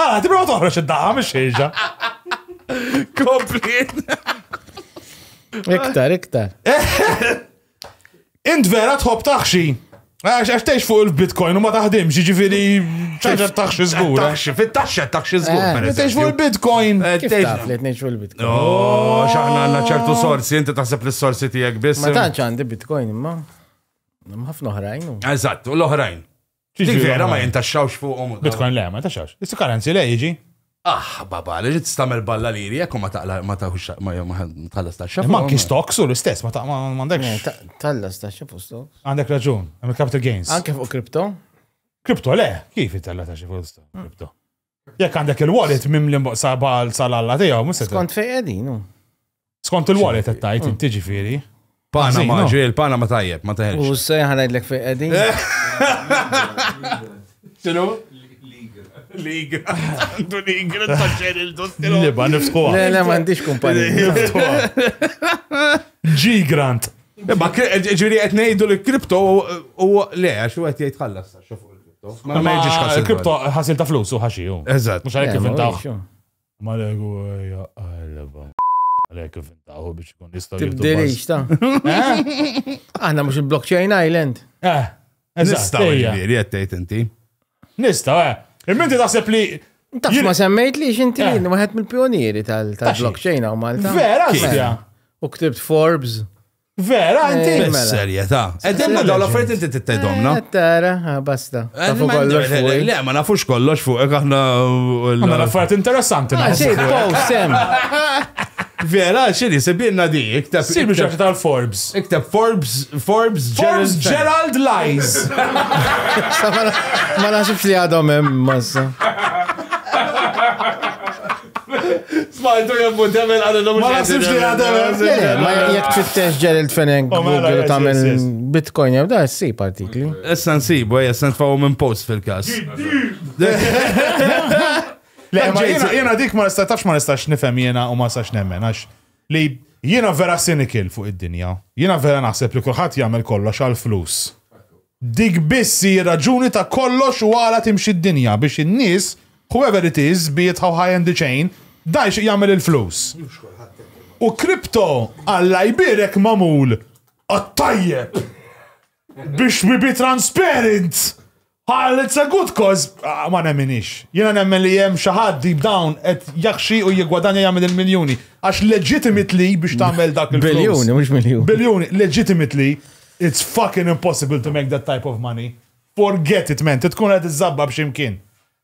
Ah, tibra toħroġ id-daqa mhix xejġa. Kompli. Iktar, iktar. Int vera tħobb taħxi. Għax għax tgħix fuq il-Bitcoin u ma taħdimx, jiġifieri ċaġa taħxi żgur. eh? Taxxi, fit-taxxa taxxi żgur. Eh, per Tgħix fuq eżempju. il-Bitcoin. Eh, Kif tgħix- taf li tnejx fuq il-bitcoin? Oh, xaħna għanna ċertu sorsi, inti taħseb li s-sorsi tijek biss. Ma tantx għandi bitcoin imma. Hemm ħafna oħrajn. u- Eżatt, u l-oħrajn. Dik vera ma jintaxxawx fuqhom. Bitcoin le, ma jintaxxawx. Is currency le jiġi. Ah, baba, li ġit stamel balla li jri, ekku ma taqla, ma taħux, ma tħallas taxxa. Ma kis stocks u l-istess, ma taqma, ma għandekx. Eh, tħallas taxxa fuq stocks. Għandek raġun, għamil capital gains. Anke fuq kripto? Kripto le, kif jitella taxxa fuq kripto? Jekk għandek il-wallet mimli sabal sal-alla tiegħu, mhux se Skont fejn qegħdin. hu. Skont il-wallet qed tgħid inti ġifieri. Panama, Ħażin, ġiel, Panama tajjeb, ma U teħelx. se ħanajdlek fejn qegħdin. Xinu? Liga. Għandu liga, taċċer il-dottilu. Liba, nifskuha. Le, le, m'għandix kumpanija. G-Grant. Imma ġiri qed ngħidu li kripto u le, għax u qed jgħid ħallas sa xo fuq il-kripto. Ma ma jiġix ħasil. Il-kripto ħasil ta' flus u ħaxi. Eżatt. Mux għalek kif intaħ. Ma legu għajja għalba. Għalek kif intaħu biex kun jistaw. Tibdilix ta' Aħna mux il-blockchain island. Eh. Nistaw ġviri, għattajt inti. Nistaw, eh. Il-minti taħseb li Taf ma semmejt li xinti eh. waħed mill-pionieri tal-blockchain għaw Malta. Vera, xtja. U ktibt Forbes. Vera, eh, inti? Mela. Serjeta. Edemna daw l-affariet inti t-tajdom, eh, Tara, ah, basta. Eh, Tafu kollox fuq. Le, ma nafux kollox fuq, għahna. Għanna l-affariet interessanti. Ah, xej, pow, sem. Vera, xini, sebirna di, iktab. Sibir ġaħ tal-Forbes. Iktab Forbes, Forbes, Forbes Gerald Lies. Ma nasibx li għadhom hemm massa. Smajtu jemmu demel għal l-lum. Ma nasibx li għademel. Ma jek tfittex Gerald Fenech oh, mela, Google ta' minn Bitcoin jew da' s-si partikli. Issa nsibu, jessan tfawu minn post fil-kas. Jena dik ma nistatax ma nistax nifem jena u ma nistax nemmen, għax li jena vera sinikil fuq id-dinja. Jena vera naħseb li kullħat jgħamil kollox għal-flus. Dik biss hi r-raġuni ta' kollox u għala timxi d-dinja, biex in-nies, whoever it is, be it how high in the chain, dan jixtieq jagħmel il-flus. U crypto, Alla jbierek, magħmul għat-tajjeb! Biex we be transparent! Għal it's a good cause, ma nemminhiex. Jiena nemmen li hemm xi ħadd deep down qed jaħxi u jiggwadanja jagħmel il-miljuni. Għax legitimately biex tagħmel dak il-flus. Biljuni, mhux miljuni. Biljuni, legitimately, It's fucking impossible to make that type of money. Forget it man, trid tkun qed iżżabbab xi mkien.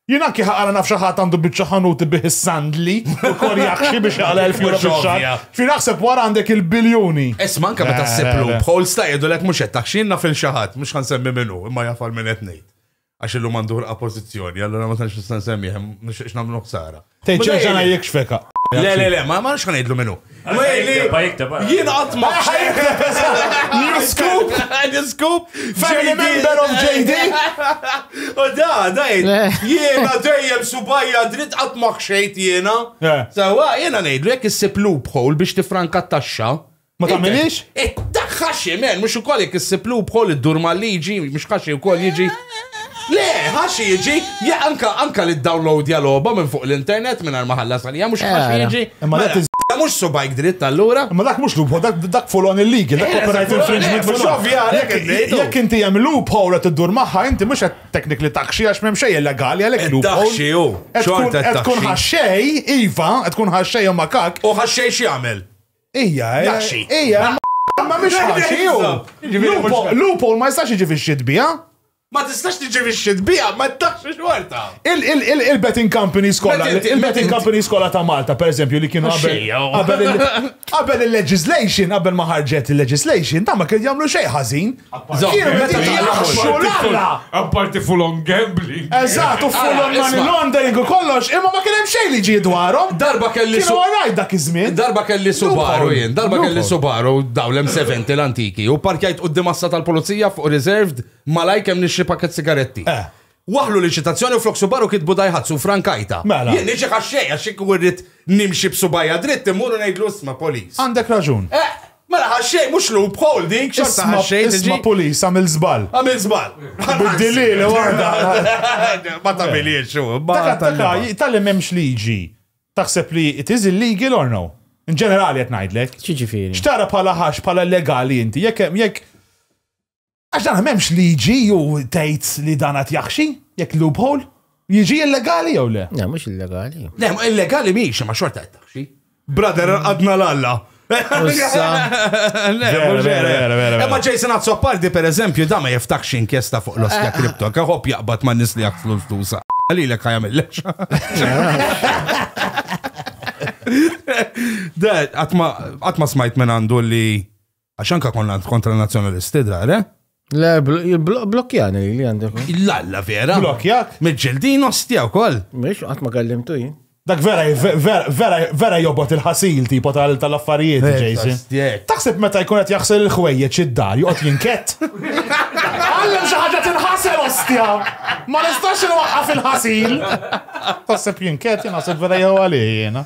Jien anki ħaqara naf xi ħadd għandu biċċa ħanut ibih is-sandli u korjaxxi biex jaqla' elf euro fix-xahar. Ovvja. Fi naħseb wara għandek il-biljuni. Isma' anke meta Le, ssib le, le. loophole sta jgħidulek mhux qed tax xi jien naf lil xi ħadd, mhux ħa nsemmi min hu, imma jaf għal min qed ngħid. għax illum għandu ħolqa pożizzjoni, allura ma tantx nista' nsemmih, ma nixtieqx nagħmlu ħsara. Tgħid xejn x'għana jikxfek. Le, le, le, ma nafx x'ngħidlu minnu. Jien qatt ma New scoop, new scoop, family member of JD. U da, da, jiena dejjem subajja dritt qatt ma ħxejt jiena. Sawa, jiena ngħidlu jekk issib loophole biex tifranka t-taxxa. Ma tagħmilix? Ittaħħa ximen, mhux ukoll jekk issib loophole iddur mal-liġi, mhux kaxi wkoll jiġi. Le, ħaxi jiġi, ja anka anka li download ja logħba minn fuq l-internet minn ma ħallas għalija mhux ħaxi Era. jiġi. Imma Mela, dak Da mhux subajk dritt allura. Ma dak mhux loophole, dak, dak full on illegal, dak Eh, copyright dak full on, infringement eh, full mhux on. ovvja, għalhekk Jekk- qed ngħidu. Jekk inti hemm loophole qed tiddur magħha, inti mhux qed technically taxxi għax m'hemm xejn illegali għalhekk Qed loophole. taxxi hu, Qed tkun- xorta qed Qed tkun taxxi. ħaxxej, iva, qed tkun ħaxxej u makak. U ħaxxej x'jagħmel? Ija, ija. Ma mhix ħaxi hu. Loophole ma jistax jiġi fix-xitbija. Ma tistax tiġi biex xitbija, ma tax xorta. Il-betting company skola, il-betting company skola ta' Malta, per eżempju, li kienu qabel il-legislation, qabel ma ħarġet il-legislation, ta' ma kien jagħmlu xejn ħażin. Apparti full on gambling. Eżatt, u full on money laundering u kollox, imma ma kien hemm xejn li ġie dwarhom. Darba kelli su. Alright dak iż-żmien. Darba kelli Subaru jien, darba kelli Subaru daw l-M70 l-antiki u parkjajt qudiem assa tal-pulizija fuq reserved malaj kemm nixri pakket sigaretti. Eh. Waħħlu l-inċitazzjoni u flok subaru kitbu Daihatsu u frankajtha. Mela. Jien niġi ħaxxej għax jekk inkun rrid nimxi b'subgħajja dritt immur u ngħidlu isma' police. Għandek raġun. Eħ! Mela ħaxxej mhux loophole dik, xorta Isma' ħaxxej tiġi. isma' police għamilt żball. Għamilt żball. Biddilli li waħda. Ma tagħmilhiex hu. ma Dak dak tgħallima. tal-li m'hemmx liġi taħseb li it is illegal or no? In ġenerali qed ngħidlek. X'jiġifieri? X'tara bħala ħax bħala legali inti jekk hemm- jekk Għax dan m'hemmx liġi ju tgħid li dan qed jaħxi, jekk loophole, jiġi illegali jew le? Le, mhux illegali. Le, illegali mhix ma xorta qed taħxi. Brother, għadna l-alla. Ma Jason Azzopardi per eżempju da ma jiftakx inkjesta fuq l-oskja eh, eh. kripto, kaħob jaqbad ma nisli għak flus tusa. Għalli l-ek għajamil Għatma smajt minn għandu li Għax anka konna kontra nazjonalisti dar, eh? Le, blokkjani li għandek. L-alla vera. Blokkjak? Mġildin ostja u koll. Mux, għat ma kallim tu Dak vera, vera, vera jobot il-ħasil tipo tal-affarijiet, eh, Jason. Taħseb meta jkun qed jaħsel il-ħwejjeġ id-dar, joqgħod jinkett. Għallem xi ħaġa tinħasel ostja. Ma nistax inwaqqaf il-ħasil. Taħseb jinkett, jien naħseb vera jew għalih jiena.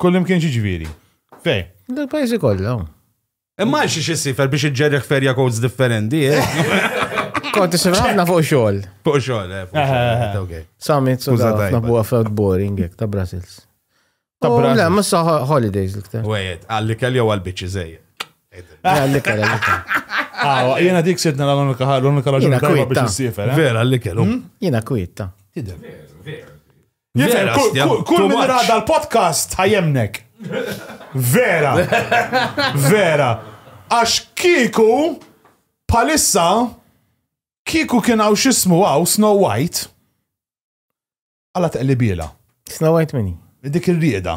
Kullim kien ġiġviri. Fej. Dal-pajzi kollha. Imma xi xissifer biex iġġerriħ ferja codes differenti. Konti xifrafna fuq xogħol. Fuq xogħol, eh. fuq xogħol, okay. Summit, so Uża da, tajba. nabu għafet boring, jek, ta' Brussels. Ta' Oh, Brussels. Le, ma sa holidays l-iktar. Wejed, għalli kelli u għal-bicċi zej. Għalli kara, għalli kara. Awa, jena dik sitna l-unika l-unika raġuni Jiena tajba kwiet, biex ta. issifer. eh? Vera, għalli kellu. Jina kwiet, ta. Tidher. Vera, Kull- stja- kull- Kull too min much. rada l-podcast ħajemnek. Vera. Vera. Għax kiku palissa kiku kien għaw xismu għaw Snow White għala teqlibiela. Snow White mini. Dik il-rieda.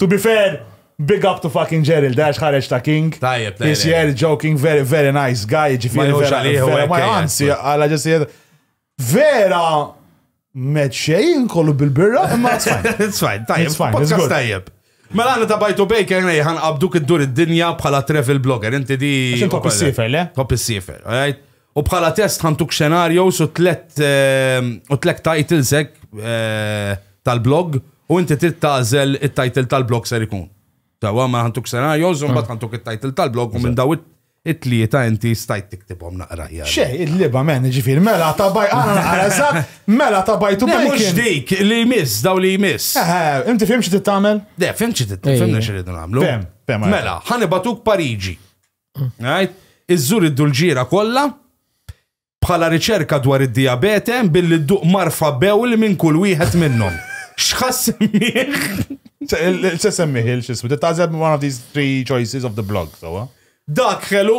To be fair, big up to fucking Gerald, għax ħareġ ta' king. Tajjeb, tajjeb. He's here joking, very, very nice guy, ġifiri. Ma għanzi, għala ġessi Vera, met xejn kollu bil-birra, imma it's fine. Tajjeb, podcast tajjeb. Mela għana ta' bajtu bej kien ħan qabduk id-dur id-dinja bħala travel blogger, inti di. Xintu koppi s-sifer, le? Koppi s-sifer, alright? U bħala test ħantuk scenarios u tlet ehm, u tlet titles hekk eh, tal-blog u inti trid tażel it-title tal-blog ser ikun. Tawa ma ħantuk scenarios u mbagħad ħantuk it-title tal-blog u minn daw it- it-tlieta inti stajt tiktibhom naqra ħjar. Xej, il-liba men, ġifir, mela ta' baj, għana naqra eżat, mela ta' baj tu Le, mhux bacon. dik li jmiss, daw li jmiss. Eh, Inti fim xi tittamel? Le, fimċi titfimna xi rridu nagħmlu. Fem, fem, għajja. Mela, ħanibatuk Pariġi. Right? Iżżur id-dulġiera kollha bħala riċerka dwar id-diabete billi dduq marfa bewl minn kull wieħed minnhom. X'ħass Se semmiħ il-xismu, tażeb one of these three choices of the blog, so. Dak ħelu.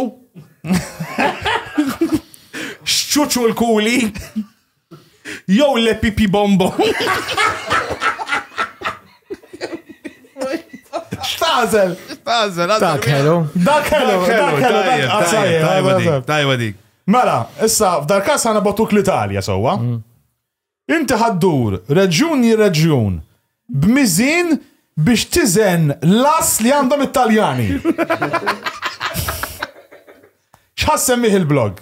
Xċuċu l-kuli. Jew le pipi bombo. Xtazel! Xtazel, Dak hello. Dak hello, dak hello, dak Tajba dik. Mela, issa, f'dar kas għana botuk l-Italja, sowa. Mm. Inti ħaddur, reġjun ji reġjun, b'mizin biex tizen las li għandhom it-Taljani. Xħassem il-blog?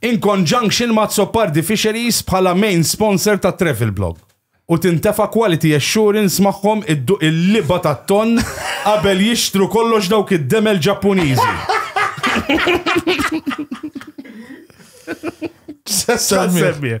in conjunction ma' Azzopardi Fisheries bħala main sponsor ta' Travelblog u tintefa' quality assurance magħhom idduq il-liba tat-tonn qabel jixtru kollox dawk id-demel Ġappuniżi. X'ħadd semmieh?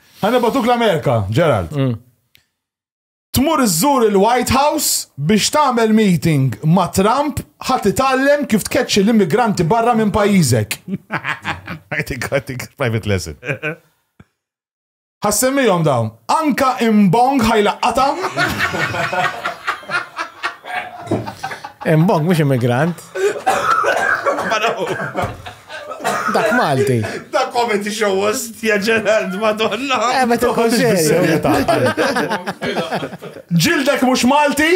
Ħa nibgħatuk l-Amerika, Gerald. Mm. Tmur iżżur il-White House biex tagħmel meeting ma' Trump ħadd itgħallem kif tkeċċi l-immigranti barra minn pajjiżek. I think, I think, private lesson. Ħassemmijom dawn. Anka imbong ħajlaqqata. Imbong, mux immigrant. Dak Malti. Dak comedy show host, ja ġerald, madonna. Eh, ma toħħoġ Ġildek mux Malti?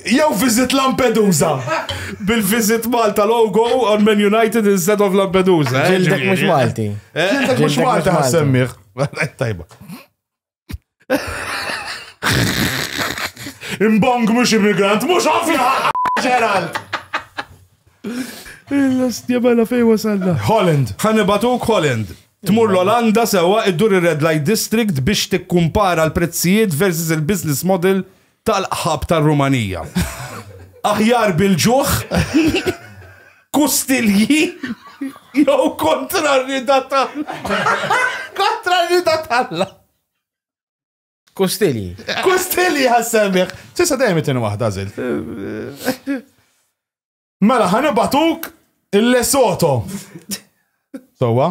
Jew visit Lampedusa. Bil-visit Malta logo on Man United instead of Lampedusa. Eh, Ġildek mux Malti. Eh? Ġildek mux Malti ħassemmiħ. Tajba. Imbong mux immigrant, mux ovvja! Gerald! Il-lastja bella fej wasalna. Holland, ħanibatuk Holland. Tmur l-Olanda sewa iddur ir-Red Light District biex tikkumpara l-prezzijiet versus il-business model tal-qħab tar-Rumanija. Aħjar bil-ġuħ, kustilji jew kontra r-rida tal-Alla. Kontra r-rida tal-Alla. Kustilji. Kustilji ħassemmiħ. Sisa dejjem itin waħda żilt. Mela, ħanibatuk il-Lesoto. Sowa?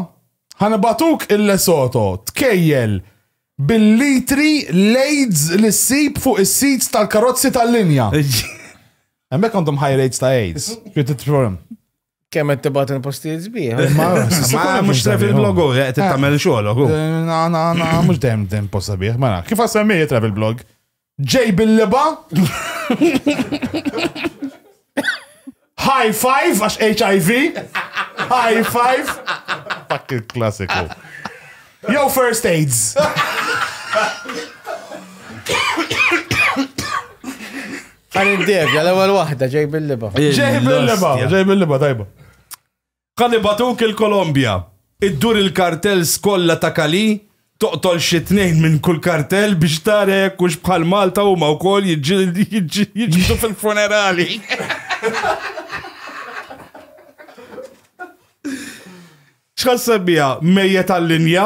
Ħanibatuk il-Lesoto. Tkejjel bil-litri lejds li ssib fuq is-sits tal-karozzi tal-linja. Hemmhekk għandhom high rates ta' AIDS. Xi titfhem? Kemm qed tibgħat il-postijiet sbieħ. Ma mhux travel blog u qed tagħmel xogħol u. Na na na mhux dejjem dejjem posta bih. Mela, kif għassemmijiet travel blog? Ġej bil-liba. High five, għax HIV. High five. Dak il-klassiku. Jew first aids. Għan id-debja, l-ewel wahda, ġej bil-liba. Ġej bil-liba, ġej bil-liba, tajba. Qal ibatuk il-Kolombja, iddur il-kartels kollha ta' Cali, toqtol xi tnejn minn kull kartel biex tara jekk hux bħal Malta huma wkoll jiġġieldu fil-funerali. X'ħasseb biha, mejjet għal-linja?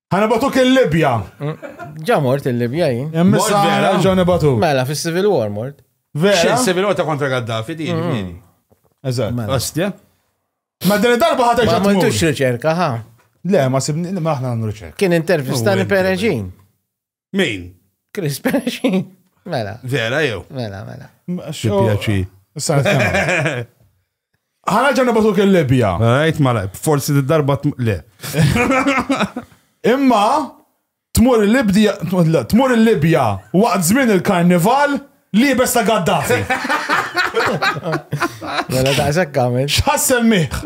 Ħana batuk il-Libja. Ġa mort il-Libja jien. Hemm Mort issa vera? ġew nibatuk. Mela fis-Civil War mort. Xi Vera? civil war ta' kontra Gaddafi di jiġifieri. Eżatt. Mela. Ostja. Ma din id-darba ħadd Ma ġa tmur. għamiltux riċerka, ha? Le, ma sibni, ma aħna nagħmlu riċerka. Kien intervistani Uwin, Pereġin. Min? Chris Pesci. Mela. Vera jew? Mela, mela. Xipjaċi. Ħana ġanna batuk il-Libja. Għajt mala, forsi d-darba le. Imma tmur il-Libja, tmur il-Libja waqt żmien il-karnival li bes ta' Gaddafi. Mela ta' xekkamil. Xħassel miħ.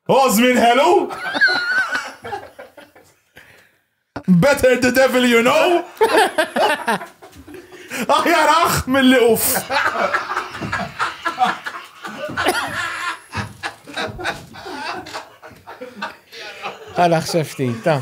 Osmin hello? Better the devil you know? Aħjar aħ mill-li uff. Għala xefti, ta'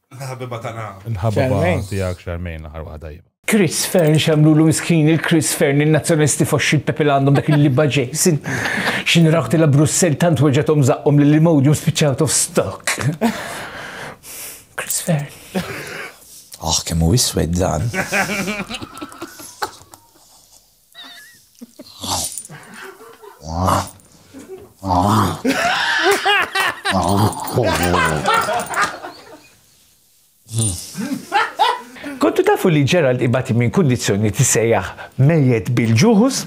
Ħabiba tagħna. Il-ħabiba tiegħek Charmaine l-aħħar waħda jibha. Chris Fern xamlu l miskin il-Chris Fern il-nazzjonisti foxxi l-Pepe għandhom dak il-libba Jason. Xin raħti la Brussel tant weġatom zaqqom li l-imodium spiċċaw of stock. Chris Fern. Oh, kemmu iswed dan. Kontu tafu li Gerald ibati minn kondizjoni tisejjaħ mejet bil-ġuħus?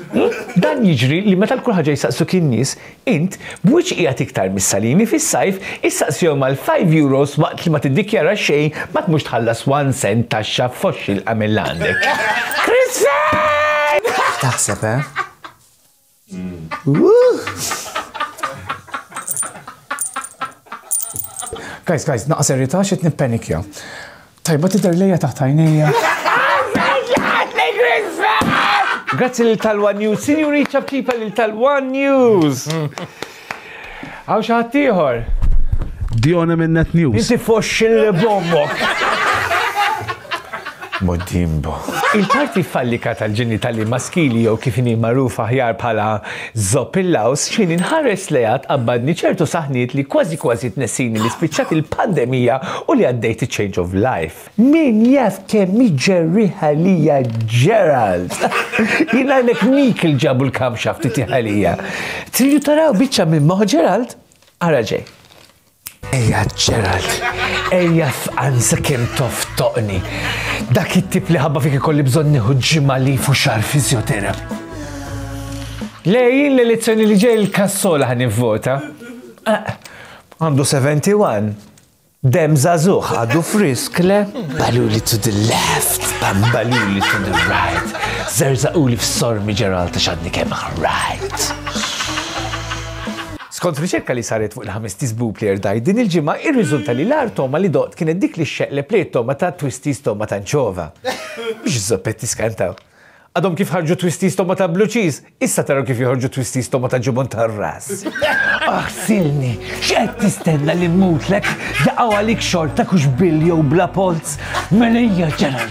Dan jiġri li meta l-kulħaġa jisaqsu kien nies Int, b'wiċċ qiegħed iktar mis-salini fis-sajf, issaqsihom għal five euros waqt li ma tiddikjara xejn ma tmurx tħallas one cent taxxa f'foxxi l-qamel li għandek. Chris Fan! Taħseb, eh? Guys, guys, naqqas serjetà x'qed nippenikja. Tajba tidher lejja taħt għajnejja. Grazzi lil Talwa News. Sinjuri ċabċipa lil Talwa News. Għaw xaħat tiħor. Djona minn Net News. Inti foxxin li bommok. Modimbo. Il-parti fallika tal-ġenitali maskili jew kif inhi magħruf aħjar bħala Zopp il-laws x'ħin inħares lejha tqabbadni ċertu saħniet li kważi kważi tnessini li spiċċat il-pandemija u li għaddejt iċ-change of life. Min jaf kemm hi ġerrieħ għalija Gerald! Jien ngħidlek Meek li ġabu l-camshaft itih għalija. Tridu taraw biċċa minn moħħ Gerald? Ara ġej. Ejja Gerald, ejja fqan sa kem toftoqni. Dak it-tip li ħabba fik ikolli bżonn nieħu ġimgħa li fu xar fizjoterap. Lejn l-elezzjoni li ġej il-kassola ħan vota. Eh, għandu 71. Dem zazuħ, għadu frisk, le? Baluli to the left, bambaluli to the right. Zerza uli f-sormi ġeral ta' xadni kem right. Skont riċerka li saret fuq il-ħames Tist Blue Player Diet din il-ġimgħa, irriżulta li l-agħar togħma li doqt kienet dik li xxeqleb lejn it-togħma ta' Twisties Togħma ta' Nċova. Mhux iż-zoppetti skantaw. Għadhom kif ħarġu Twisties Togħma ta' Blue Cheese, issa taraw kif joħorġu Twisties Togħma ta' Ġubun tar-Ras. Aħsilni! X'qed tistenna li mmutlek? Jaqgħu għalik xorta kux bil jew bla polz? Mela ejja ġara!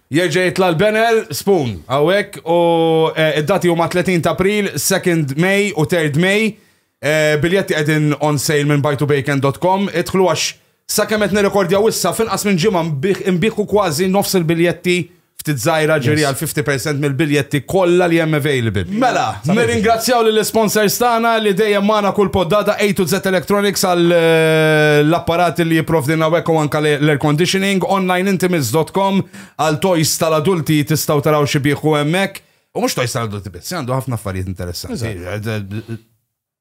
Jerġa' jitla' l-banner, spoon, hawnhekk u d-dati huma 30 ta' April, 2nd May u 3rd May. Biljetti qegħdin on sale minn buytobacon.com. Idħlu għax sakemm qed nirrekordjaw issa, f'inqas minn ġimgħa nbigħu kważi nofs il-biljetti, ftit żgħira, ġifieri għal 50% mill-biljetti kollha li hemm available. Mela, Nirringrazzjaw lill-isponsors tagħna li dejjem magħna kull poddata A to Z Electronics għal l-apparati li jipprovdilna hawnhekk u anke l-air conditioning, onlineintimates.com għal toys tal-adulti tistgħu taraw xi bieħu hemmhekk. U mhux toys tal-adulti biss, għandu ħafna affarijiet interessanti.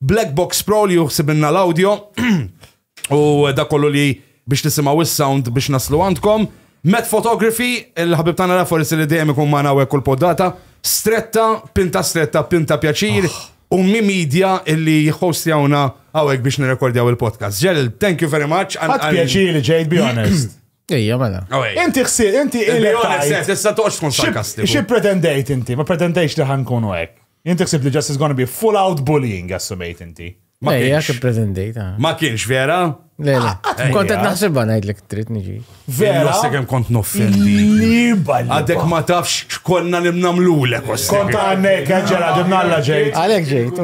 Black Box Pro li juħsibinna l-audio u da kollu li biex tisimaw is-sound biex naslu għandkom. Met Photography, il-ħabib tana Raffors li dejjem ikun ma nawek kull poddata, stretta, pinta stretta, pinta pjaċir, ah. u mi media illi jħostjawna għawek biex nirekordjaw il-podcast. Ġel, thank you very much. Għad pjaċir li ġejt, be honest. Ija, mela. Oh, inti xsir, inti il-honest, tista toqx tkun sarkastiku. Xie pretendejt inti, ma pretendejx li ħankunu għek. Jien tiħsib li just is gonna be full out bullying assumejt inti. Ma kienx. Ejja, kif pretendejt. Ah. Ma kienx vera? Le, le. Ah, ah, kont qed naħsibha ngħidlek trid niġi. Vera. Naħseb kemm kont noffendi. Għadek ma tafx x'konna li mnamlulek. Kont għandek ġela ġimnalla ġejt. Għalek ġejt.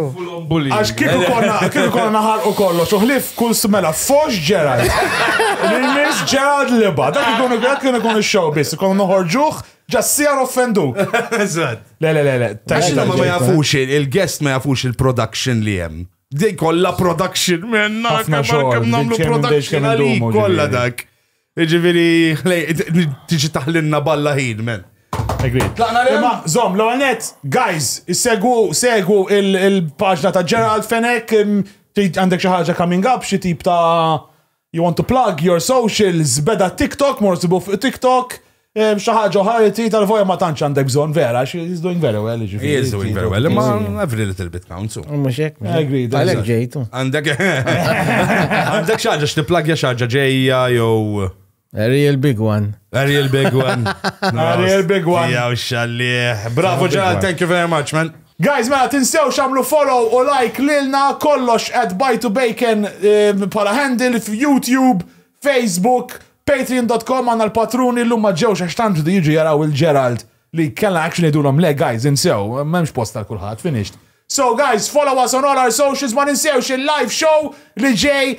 Għax kif konna kif konna naħarqu kollox u ħlif kull smela fox ġera. Nis ġera liba. Dak ikun dak kien ikun ix-show biss, ikun noħorġuh Just see għan offenduk. Eżatt. Le, le, le, le. Għax ma ma jafux, il-guest ma jafux il-production li jem. Dej kolla production minna. Għafna xogħol. Namlu production għalik kolla dak. Ġiviri, tiġi taħlinna balla ħin, men. Imma, zom, l għanet guys, segwu, segwu il-pagġna ta' Gerald Fenek, għandek xaħġa coming up, xie tip ta' You want to plug your socials, beda TikTok, mor sibu fuq TikTok, eh, xi ħaġa oħra li trid tal voja ma tantx għandek bżonn vera, she is doing very well. He is doing very well, imma every little bit counts. so. Mux ek, mux ek. Agreed, Għalek agreed. ġejtu. Għandek għandek xi ħaġa x'tipplagja xi ħaġa ġejja jew A real big one. a real big one. A real big one. Jew xallieħ. Bravo Ġal, thank you very much, man. Guys mela tinsewx għamlu follow u like lilna kollox at bytobacon bħala handle f'Youtube, Facebook, Patreon dot com għandna l-patruni llum ma ġewx għax tant rdu jiġu jaraw il Gerald li kellna action ngħidulhom le guys insew m'hemmx post għal kulħadd finished. So guys follow us on all our socials ma ninsewx il-live show li ġej